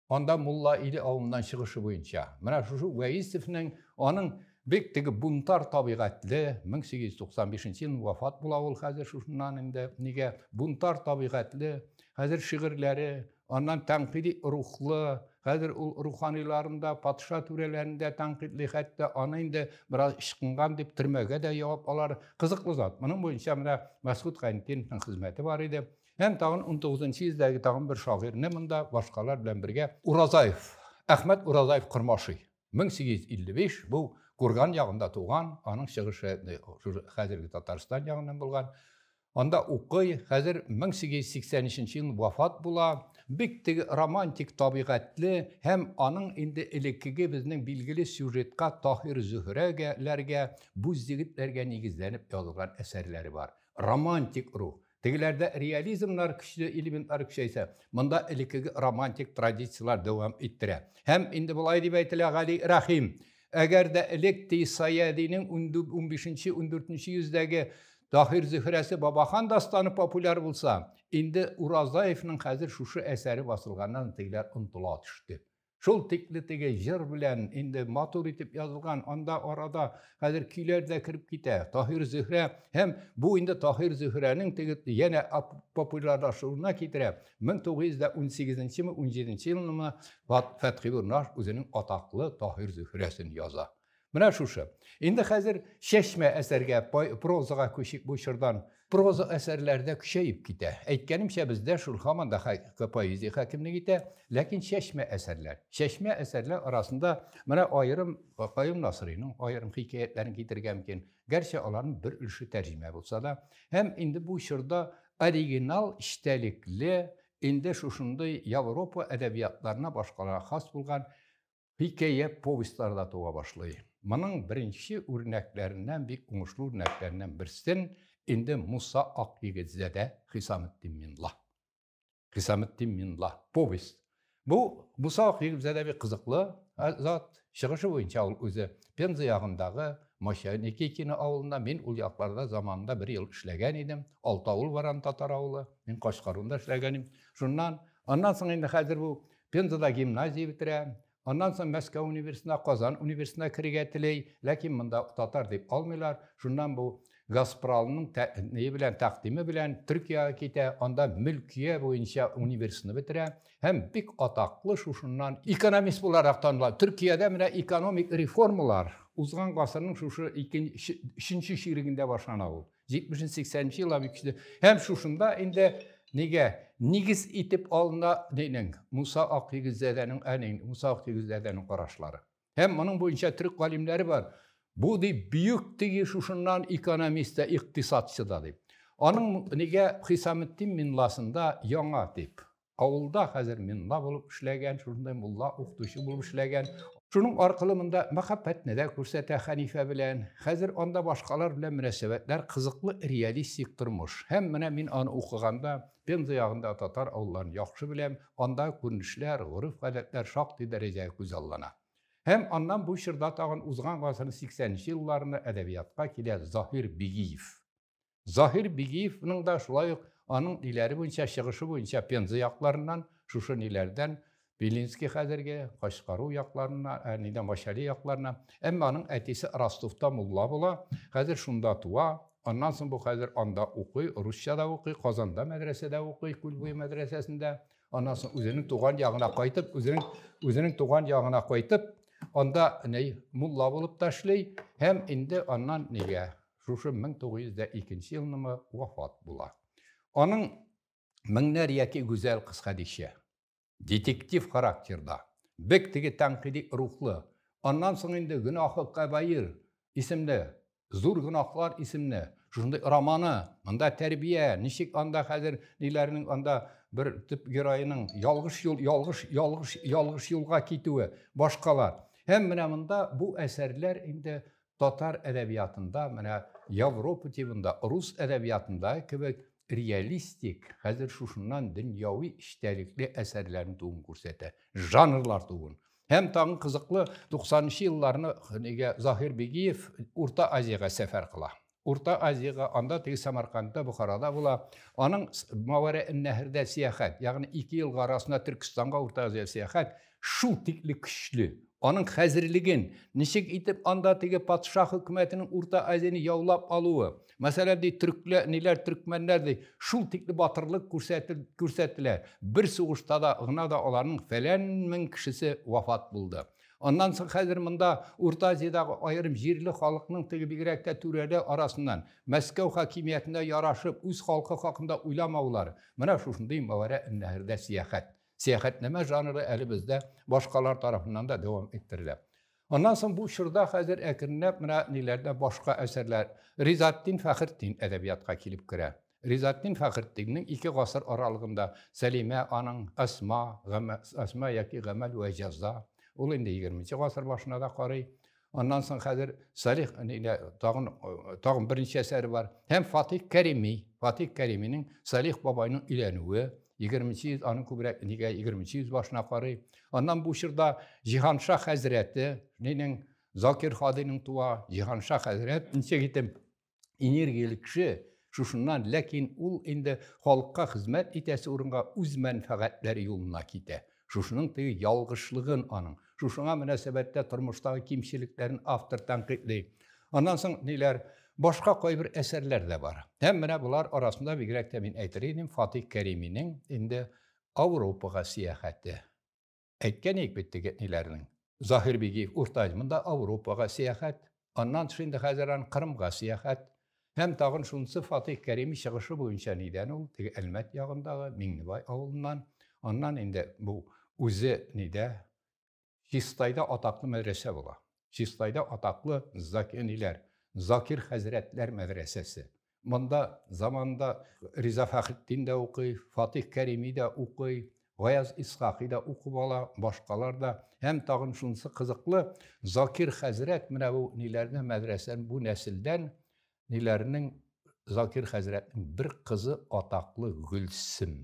A: Анда Мулла Иле авылыннан чыгышы буенча, менә шушы Вәисевнең аның бик теге бунтар табигатьле 1895 ел вафат була ул хәзер шушыннан инде нигә бунтар табигатьле хәзер шигырьләре аннан тәнкыйди рухлы хәзер ул руханиларында патша түрәләрендә тәнкыйтьли хәтта аны инде бераз ычкынган дип төрмәгә дә ябып алар кызыклы зат моның буенча менә мәсгуд хәнтиновның хезмәте бар иде Һәм тагын 19 йөздәге тагын бер шагыйрьне монда башкалар белән бергә Уразаев, Әхмәт Уразаев Кормашый. 1855 бу Курган ягында туган, аның чыгышы хәзерге Татарстан ягыннан булган. Анда укый, хәзер 1883 ел вафат була. Бик теге романтик табигатьле һәм аның инде элеккеге безнең билгеле сюжетка Таһир Зөһрәгәләргә, Буз егетләргә нигезләнеп язылган әсәрләре бар. Романтик рух. Тегеләрдә реализмнар көчле элементлар көчәйсә, монда элеккеге романтик традицияләр дәвам иттерә. Һәм инде болай дип әйтелә Гали Рәхим, әгәр дә элек Ти Саядинең 15-14 йөздәге Таһир Зөһрәсе Бабахан дастаны популяр булса, инде Уразаевның хәзер шушы әсәре басылганнан тегеләр онтыла төште. Шул тикле теге җыр белән инде матур итеп язылган, анда арада хәзер көйләр дә кереп китә. Таһир Зөһрә һәм бу инде Таһир Зөһрәнең теге янә популярлашуына китерә. 1918 ме 17 елны Фәтхи Бурнаш үзенең атаклы Таһир Зөһрәсен яза. Менә шушы. Инде хәзер чәчмә әсәргә, прозага күчик бу чордан. Проза әсәрләрдә көчәеп китә. Әйткәнемчә, бездә шул һаман да поэзия хакимлек итә, ләкин чәчмә әсәрләр. Чәчмә әсәрләр арасында менә аерым Каюм Насыйриның аерым хикәятләрен китерергә мөмкин, гәрчә аларның бер өлеше тәрҗемә булса да. Һәм инде бу чорда оригинал эчтәлекле, инде шушындый Европа әдәбиятларына башкаларга хас булган Хикәя, повестьлар да туа башлый. Моның беренче үрнәкләреннән, бик уңышлы үрнәкләреннән берсен инде Муса Акъегетзадә Хисаметдин Минла. Хисаметдин Минла, повесть. Бу Муса Акъегетзадә бик кызыклы зат. Чыгышы буенча ул үзе Пенза ягындагы Моща Никитина авылында, мин ул якларда заманында бер ел эшләгән идем. Алты авыл бар аны татар авылы. Мин Кашкарунда эшләгән идем. Шуннан, аннан соң инде хәзер бу Пензада гимназия бетерә, аннан соң Мәскәү университетына, Казан университетына керергә тели, ләкин монда татар дип алмыйлар. Шуннан бу Газпралның тәкъдиме белән, тәкъдиме белән Төркиягә китә, анда мөлкия буенча университетны бетерә һәм бик атаклы шушыннан экономист буларак таныла. Төркиядә менә экономик реформалар узган гасырның шушы икенче, өченче чирегендә башлана ул. 70 80 ел абы кичте. Һәм шушында инде нигә нигез итеп алына динең Муса Акъегезәдәнең әни Муса Акъегезәдәнең карашлары. Һәм моның буенча төрек галимнәре бар. Бу ди бөек тиги шушыннан экономист да, икътисадчы да дип. Аның нигә Хисаметдин Минласында яңа дип. Авылда хәзер минла булып эшләгән, шундай мулла, укытучы булып эшләгән. Шуның аркылы монда мәхәббәтне дә күрсәтә хәнифә белән. Хәзер анда башкалар белән мөнәсәбәтләр кызыклы, реалистик тормыш. Һәм менә мин аны укыганда, Пенза ягында татар авылларын яхшы беләм, анда күренешләр, гореф-гадәтләр шактый дәрәҗә күз аллана. Һәм аннан бу чорда тагын узган гасырның 80 нче елларына әдәбиятка килә Заһир Бигиев. Заһир Бигиевның да шулай ук аның иләре буенча чыгышы буенча Пенза якларыннан, шушы ниләрдән Белинский хәзерге Кашкару якларына, ә нидән Башали якларына. Әмма аның әтисе Ростовта мулла була, хәзер шунда туа. Аннан соң бу хәзер анда укый, русча да укый, Казанда мәдрәсәдә укый, Күлбуе мәдрәсәсендә. Аннан соң үзенең туган ягына кайтып, үзенең үзенең туган ягына кайтып, анда ни мулла булып та эшли һәм инде аннан нигә шушы 1902 елнымы вафат була. Аның меңнәр яки гүзәл кыз Хәдичә. Детектив характерда, бик теге тәнкыйди рухлы, аннан соң инде Гөнаһы кабаир исемле, Зур гөнаһлар исемле шушындый романы, монда тәрбия, ничек анда хәзер ниләрнең анда бер төп героеның ялгыш юл, ялгыш, ялгыш, ялгыш юлга китүе, башкалар. Һәм менә монда бу әсәрләр инде Татар әдәбиятында, менә Европа тибында, рус әдәбиятында кебек реалистик, хәзер шушыннан дөньяви эчтәлекле әсәрләрен тууын күрсәтә. Жанрлар тууын. Һәм тагын кызыклы, 90 елларны нигә Заһир Бигиев Урта Азиягә сәфәр кыла. Урта Азиягә анда теге Самаркандта, Бухарада була. Аның Мавара Нәһрдә сәяхәт, ягъни ике елга арасында Төркстанга Урта Азия сәяхәт, Шул тикле көчле. Аның хәзерлеген, ничек итеп анда теге патша хөкүмәтенең Урта Азияне яулап алуы, мәсәлән, ди, төркләр, ниләр, төркмәннәр, ди, шул тикле батырлык күрсәтелә. Бер сугышта да гына да аларның фәлән мең кешесе вафат булды. Аннан соң хәзер монда Урта Азиядагы аерым җирле халыкның теге бигрәк тә түрәле арасыннан Мәскәү хакимиятенә ярашып үз халкы хакында уйламаулары, менә шушындый мәгарә эннәһәрдә сәяхәт. Сәяхәтнамә жанры әле бездә башкалар тарафыннан да дәвам иттерелә. Аннан соң бу чорда хәзер әкренләп менә ниләрдә башка әсәрләр Ризаттин Фәхртдин әдәбиятка килеп керә. Ризаттин Фәхртдиннең ике гасыр аралыгында Сәлимә аның Асма, Асма яки Гамәл вә җәза. Ул инде 20 нче гасыр башына да карый. Аннан соң хәзер Салих нигә тагын тагын беренче әсәре бар. Һәм Фатих Кәрими, Фатих Кәриминең Салих бабайның өйләнүе, 20 йөз аның күбрәк нигә 20 йөз башына карый. Аннан бу чорда Җиһанша хәзрәте, нинең Закир Хадиның туа Җиһанша хәзрәт ничек итеп энергияле кеше шушыннан, ләкин ул инде халыкка хезмәт итәсе урынга үз мәнфәгатьләре юлына китә. Шушының теге ялгышлыгын аның, шушыңа мөнәсәбәттә тормыштагы кимчелекләрен автор тәнкыйтьли. Аннан соң ниләр? Башка кайбер әсәрләр дә бар. Һәм менә болар арасында бигрәк тә мин әйтер идем Фатих Кәриминең инде Ауропага сәяхәте. Әйткән идек бит теге әтниләрнең. Заһир Бигиев урта ел монда Ауропага сәяхәт, аннан тыш инде хәзер ан Кырымга сәяхәт. Һәм тагын шунысы Фатыйх Кәрими чыгышы буенча нидән ул, теге Әлмәт ягындагы Миңнебай авылыннан, аннан инде бу үзе нидә, Чистайда атаклы мәдрәсә була. Чистайда атаклы Заки ниләр, Закир хәзрәтләр мәдрәсәсе. Монда заманында Риза Фәхетдин дә укый, Фатих Кәрими дә укый, Гаяз Исхакый да укып ала, башкалар да. Һәм тагын шунысы кызыклы, Закир хәзрәт менә бу ниләрне мәдрәсән бу нәселдән ниләрнең Закир хәзрәтнең бер кызы атаклы Гөлсем.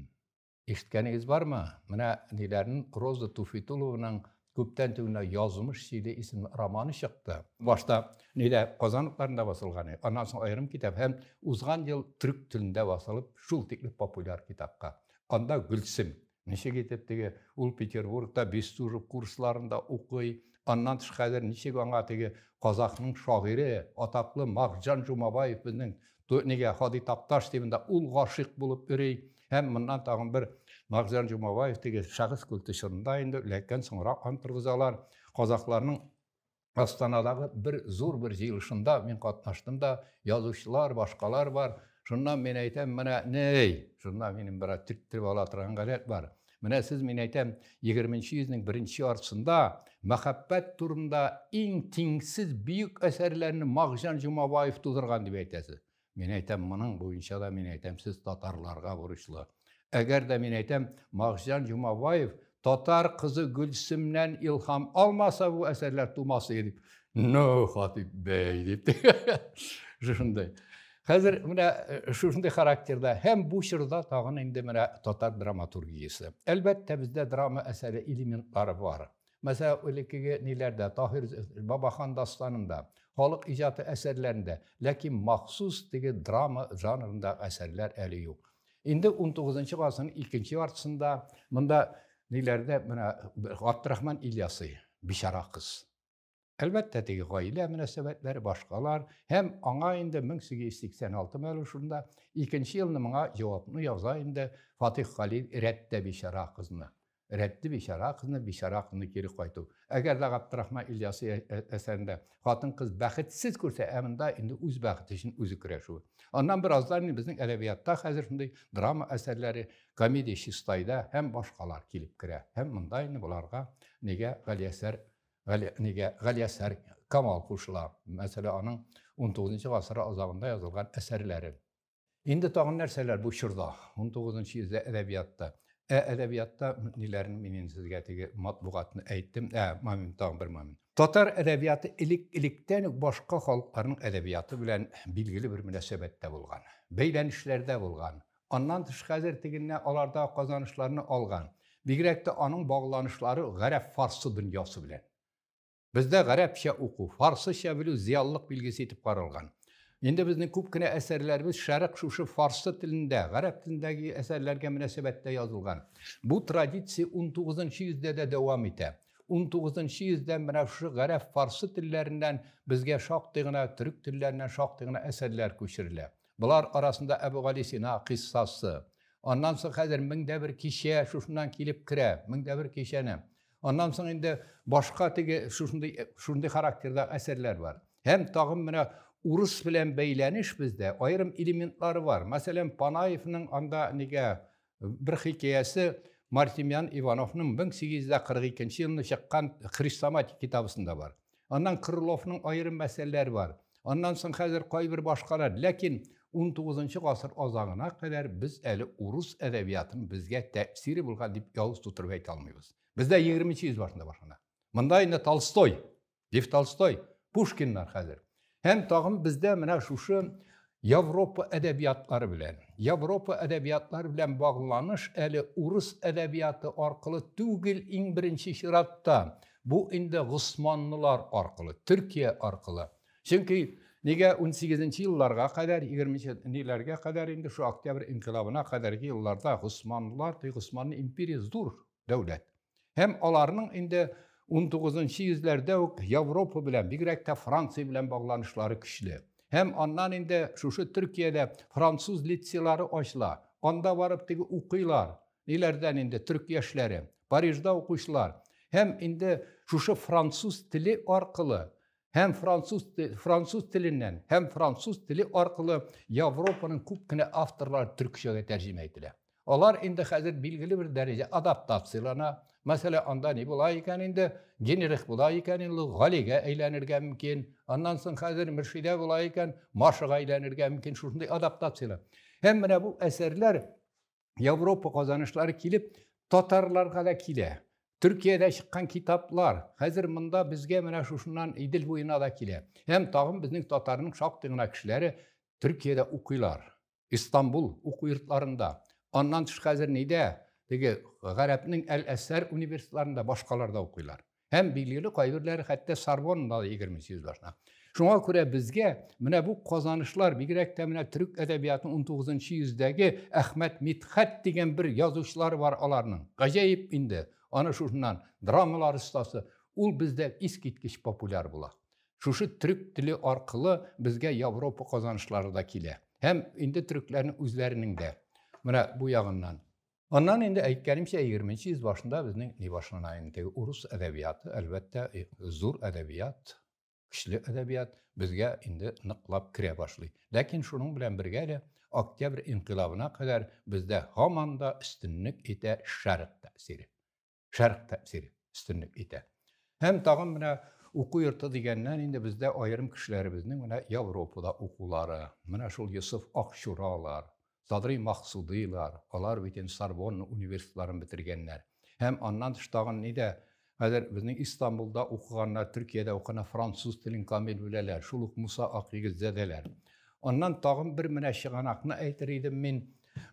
A: Ишеткәнегез бармы? Менә ниләрен Роза Туфитулованың күптән түгел Язмыш сөйли исемле романы чыкты. Башта нилә Казан утларында басылган иде. Аннан соң аерым китап һәм узган ел төрек телендә басылып, шул тикле популяр китапка. Анда Гөлсем ничек итеп теге ул Петербургта Бестужев курсларында укый, аннан тыш хәзер ничек аңа теге казахның шагыйре, атаклы Макҗан Жумабаев безнең Нигә Һади Такташ дип инде ул гашыйк булып йөри. Һәм моннан тагын бер Магзян Җомабаев дигән шәхес культы чорында инде ләкин соңрак ан торгызалар. Казахларның Астанадагы бер зур бер җыелышында мин катнаштым да, язучылар, башкалар бар. Шуннан мин әйтәм, менә ни, шуннан минем бераз төрттереп ала торган гадәт бар. Менә сез, мин әйтәм, егерменче йөзнең беренче яртысында мәхәббәт турында иң тиңсез бөек әсәрләрне Макҗан Җомабаев тудырган дип әйтәсез. Мин әйтәм, моның буенча да мин әйтәм, сез татарларга бурычлы. Әгәр дә мин әйтәм, Макҗан Җомабаев татар кызы Гөлсемнән илһам алмаса, бу әсәрләр тумас иде дип. Ну, Хатип бәй, дип. Шушындай. Хәзер менә шушындый характерда һәм бу чорда тагын инде менә татар драматургиясе. Әлбәттә, бездә драма әсәре элементлары бар. Мәсәлән, элеккеге ниләрдә, Таһир Бабахан дастанында, халык иҗаты әсәрләрендә, ләкин махсус теге драма жанрында әсәрләр әле юк. Инде 19 гасырның икенче яртысында монда ниләрдә менә Габдрахман Ильясы, Бичара кыз. Әлбәттә, теге гаилә мөнәсәбәтләре башкалар һәм аңа инде 1886 мәлу шунда икенче елны моңа җавапны яза инде Фатих Халил рәттә бичара кызны. Рәтте бичара кызны, бичара кызны кире кайту. Әгәр дә Габдрахман Ильясы әсәрендә хатын-кыз бәхетсез күрсә, ә монда инде үз бәхете өчен үзе көрәшү. Аннан бераздан инде безнең әдәбиятта хәзер шундый драма әсәрләре, комедия чистайда һәм башкалар килеп керә. Һәм монда инде боларга нигә Галиәсәр Гали, нигә Галиәсәр Камал кушыла, мәсәлән, аның 19 гасыр азагында язылган әсәрләре. Инде тагын нәрсәләр бу чорда, 19 йөздә әдәбиятта? Ә әдәбиятта ниләрне мин инде сезгә теге матбугатны әйттем, ә момент тагын бер момент. Татар әдәбияты элек-электән үк башка халыкларның әдәбияты белән билгеле бер мөнәсәбәттә булган, бәйләнешләрдә булган. Аннан тыш хәзер тегеннән алар да казанышларны алган. Бигрәк тә аның багланышлары гарәп-фарсы дөньясы белән. Бездә гарәпчә уку, фарсыча белү зыялылык билгесе итеп каралган. Инде безнең күп кенә әсәрләребез шәрык шушы фарсы телендә, гарәп телендәге әсәрләргә мөнәсәбәттә язылган. Бу традиция 19 нчы йөздә дә дәвам итә. 19 нчы йөздә менә шушы гарәп-фарсы телләреннән безгә шактый гына, төрек телләреннән шактый гына әсәрләр күчерелә. Болар арасында Әбүгалисина кыйссасы. Аннан соң хәзер мең дә бер кичә шушыннан килеп керә. Мең дә бер кичәне. Аннан соң инде башка теге шушындый, шушындый характердагы әсәрләр бар. Һәм тагын менә урыс белән бәйләнеш бездә аерым элементлары бар. Мәсәлән, Панаевның анда нигә Бер хикәясе Мартемьян Ивановның 1842 елны чыккан Хрестоматик китабысында бар. Аннан Крыловның аерым мәсьәләләре бар. Аннан соң хәзер кайбер башкалар. Ләкин 19 гасыр азагына кадәр без әле урыс әдәбиятының безгә тәэсире булган дип явыз тутырып әйтә алмыйбыз. Бездә 20 йөз башында башлана. Монда инде Толстой Лев Толстой, Пушкиннар хәзер. Һәм тагын бездә менә шушы Европа әдәбиятлары белән, Европа әдәбиятлары белән багланыш әле урыс әдәбияты аркылы түгел иң беренче чиратта. Бу инде госманлылар аркылы, Төркия аркылы. Чөнки нигә 18 елларга кадәр, 20 ниләргә кадәр инде шу октябрь инкилабына кадәрге елларда госманлылар, ди, госманлы империя зур дәүләт. Һәм аларның инде 19-нчы йөзләрдә үк Европа белән, бигрәк тә Франция белән багланышлары көчле. Һәм аннан инде шушы Төркиядә француз лицейлары ачыла. Анда барып теге укыйлар. Ниләрдән инде төрк яшьләре, Парижда укучылар. Һәм инде шушы француз теле аркылы һәм француз, француз теленнән һәм француз теле аркылы Европаның күп кенә авторлары төркчәгә тәрҗемә ителә. Алар инде хәзер билгеле бер дәрәҗә адаптациялана. Мәсәлән, анда ни була икән инде, Генрих була икән инде, Галигә әйләнергә мөмкин. Аннан соң хәзер Мөршидә була икән, Машага әйләнергә мөмкин. Шушындый адаптацияләр. Һәм менә бу әсәрләр Европа казанышлары килеп, татарларга да килә. Төркиядә чыккан китаплар хәзер монда безгә менә шушыннан Идел буена да килә. Һәм тагын безнең татарның шактый гына кешеләре Төркиядә укыйлар. Истанбул уку йортларында. Аннан тыш хәзер нидә? Теге гарәпнең Әл-Әсәр университетларында башкаларда укыйлар. Һәм билгеле кайберләре хәтта Сорбоннада да егерме сүз башына. Шуңа күрә безгә менә бу казанышлар, бигрәк тә менә төрек әдәбиятының 19 йөздәге Әхмәт Мидхәт дигән бер язучылары бар аларның. Гаҗәеп инде, аны шушыннан драмалар остасы, ул бездә искиткеч популяр була. Шушы төрек теле аркылы безгә Европа казанышлары да килә. Һәм инде төрекләрнең үзләренең дә. Менә бу ягыннан. Аннан инде әйткәнемчә 20 йөз башында безнең ни башлана инде урыс әдәбияты, әлбәттә, э, зур әдәбият, көчле әдәбият безгә инде ныклап керә башлый. Ләкин шуның белән бергә дә октябрь инкыйлабына кадәр бездә һаман да өстенлек итә шәрык тәэсире. шәрх тәэсир өстенлек итә. Һәм тагын менә уку йорты дигәннән инде бездә аерым кешеләребезнең менә Европада укулары, менә шул Йосыф Акчуралар, Садри Максудыйлар, алар бит инде Сорбонна университетларын бетергәннәр. Һәм аннан тыш тагын нидә хәзер безнең Истанбулда укыганнар, Төркиядә укыганнар, француз телен камил беләләр, шул ук Муса Акъегетзадәләр. Аннан тагын бер менә чыганакны әйтер идем мин,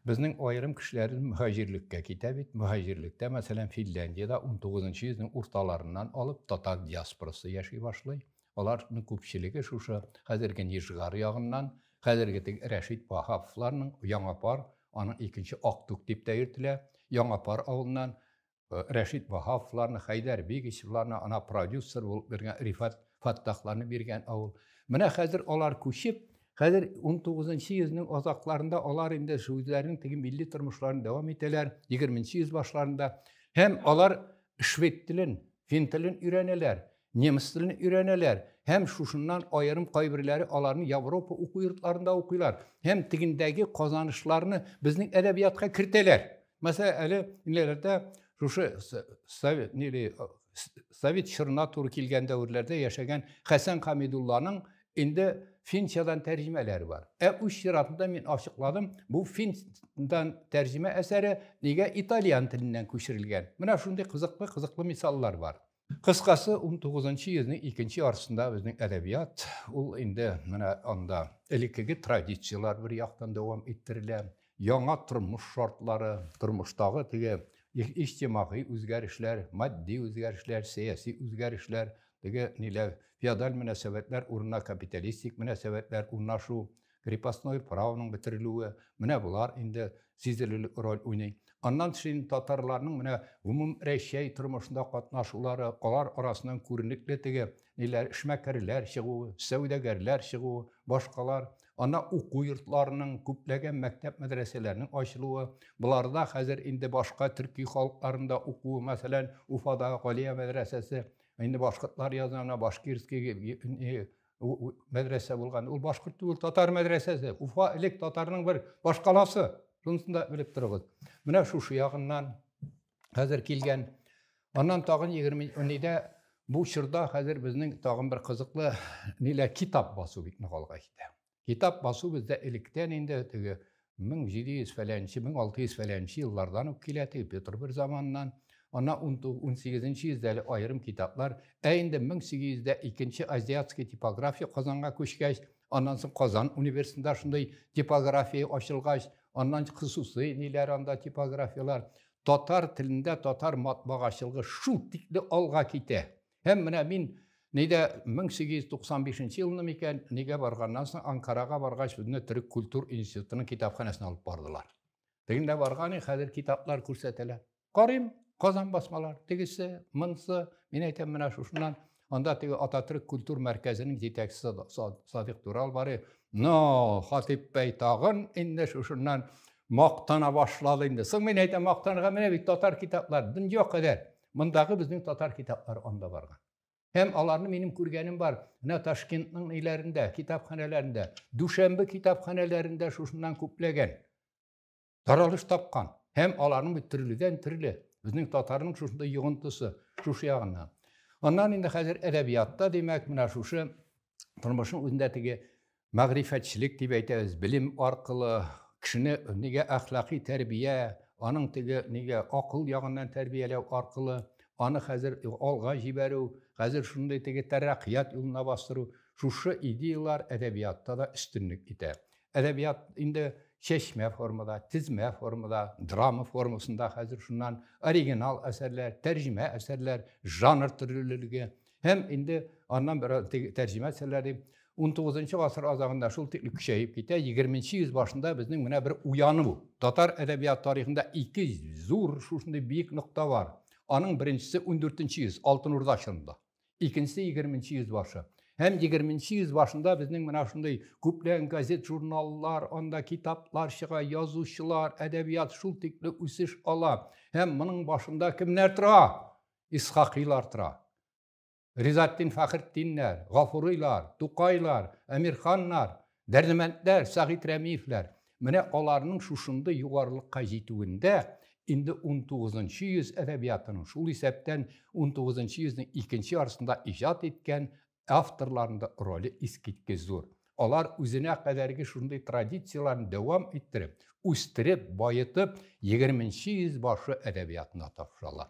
A: Безнең аерым кешеләр мөхаҗирлеккә китә бит. Мөхаҗирлектә, мәсәлән, Финляндиядә 19 йөзнең урталарыннан алып татар диаспорасы яши башлый. Аларның күпчелеге шушы хәзерге Нижгар ягыннан, хәзерге теге Рәшит Ваһаповларның Яңа пар, аның икенче Актүк дип тә йөртелә, Яңа пар авылыннан Э, Рәшит Баһавовларны, Хәйдәр Бигичевларны, ана продюсер булып биргән Рифат Фаттахларны биргән авыл. Менә хәзер алар күчеп, хәзер 19-нчы йөзнең азакларында алар инде үзләренең теге милли тормышларын дәвам итәләр, 20-нчы йөз башларында. Һәм алар швед телен, фин телен өйрәнәләр. Немец телен өйрәнәләр һәм шушыннан аерым кайберләре аларны Европа уку йортларында укыйлар һәм тегендәге казанышларны безнең әдәбиятка кертәләр. Мәсәлән, әле ниләрдә шушы совет нили совет чорына туры килгән дәверләрдә яшәгән Хәсән Хамидулланың инде Финчадан тәрҗемәләре бар. Ә үз чиратында мин ачыкладым, бу Финчадан тәрҗемә әсәре нигә итальян теленнән күчерелгән? Менә шундый кызыклы-кызыклы мисаллар бар. Кыскасы, 19-нчы йөзнең икенче ярсында безнең әдәбият, ул инде менә анда элеккеге традицияләр бер яктан дәвам иттерелә, яңа тормыш шартлары, тормыштагы теге иҗтимагый үзгәрешләр, матди үзгәрешләр, сәяси үзгәрешләр, теге ниләр, феодаль мөнәсәбәтләр урынына капиталистик мөнәсәбәтләр урнашу, Крепостное правоның бетерелүе, менә болар инде сизелерлек роль уйный. Аннан тыш инде татарларның менә гомум Рәчәй тормышында катнашулары, алар арасыннан күренекле теге ниләр, эшмәкәрләр чыгуы, сәүдәгәрләр чыгуы, башкалар. Аннан уку йортларының, күпләгән мәктәп-мәдрәсәләрнең ачылуы. Боларда хәзер инде башка төрки халыкларында укуы, мәсәлән, Уфадагы Галия мәдрәсәсе, инде башкортлар язына, башкирский, мәдрәсә булган ул башкорт түгел татар мәдрәсәсе уфа элек татарның бер башкаласы шунысын да белеп торыгыз менә шушы ягыннан хәзер килгән аннан тагын егерме унидә бу чорда хәзер безнең тагын бер кызыклы нилә китап басу бик нык алга китә китап басу бездә электән инде теге 1700 фәләнче, 1600 фәләнче еллардан ук килә теге Петр I заманнан. Ана 18 йөздә әле аерым китаплар. Ә инде 1800дә икенче азиатский типография Казанга күчкәч, аннан соң Казан университетында шундый типография ачылгач, аннан хосусый ниләр анда типографиялар. Татар телендә татар матбагачылыгы шул тикле алга китә. Һәм менә мин нидә 1895 елны микән, нигә барганнан соң Анкарага баргач, үзне төрек культур институтының китапханәсенә алып бардылар. Тегендә барган, хәзер китаплар күрсәтәләр. Карыйм, Казан басмалар, тегесе, монсы, мин әйтәм, менә шушыннан анда теге Ататүрек культур мәркәзенең җитәкчесе Садык Турал бар. Но, Хатип бәй тагын инде шушыннан мактана башлады инде. Соң мин әйтәм, мактанырга менә бит татар китаплар, дөнья кадәр. Мондагы безнең татар китаплары анда барган. Һәм аларны минем күргәнем бар. Менә Ташкентның ниләрендә, китапханәләрендә, Дүшәмбе китапханәләрендә шушыннан күпләгән таралыш тапкан. Һәм аларның бит төрледән төрле. Безнең татарның шушында йогынтысы, шушы ягыннан. Аннан инде хәзер әдәбиятта, димәк, менә шушы тормышның үзендә теге мәгърифәтчелек дип әйтәбез, белем аркылы кешене нигә әхлакый тәрбия, аның теге нигә акыл ягыннан тәрбияләү аркылы, аны хәзер алга җибәрү, хәзер шундый теге тәрәккыят юлына бастыру, шушы идеялар әдәбиятта да өстенлек итә. Әдәбият инде чәчмә формада, тезмә формада, драма формасында хәзер шуннан оригинал әсәрләр, тәрҗемә әсәрләр, жанр төрлелеге, Һәм инде аннан бераз тәрҗемә итсәләр дип, 19 гасыр азагында шул тикле көчәеп китә, 20 йөз башында безнең менә бер уяну. Татар әдәбият тарихында ике зур шушындый биек нокта бар. Аның беренчесе 14 йөз, Алтын Урда чорында. Икенчесе 20 йөз башы. Һәм 20 йөз башында безнең менә шундый күплән газет, журналлар, анда китаплар чыга, язучылар, әдәбият шул тикле үсеш ала. Һәм моның башында кемнәр тора? Исхакыйлар тора. Ризатдин Фәхретдиннәр, Гафурыйлар, Тукайлар, Әмирханнар, Дәрдемәндләр, Сәгыйть Рәмиевләр. Менә аларның шушындый югарылыкка җитүендә инде 19 йөз әдәбиятының, шул исәптән 19 йөзнең икенче ярсында иҗат иткән авторларның да роле искиткеч зур. Алар үзенә кадәрге шундый традицияләрне дәвам иттереп, үстереп, баетып, 20 йөз башы әдәбиятына тапшыралар.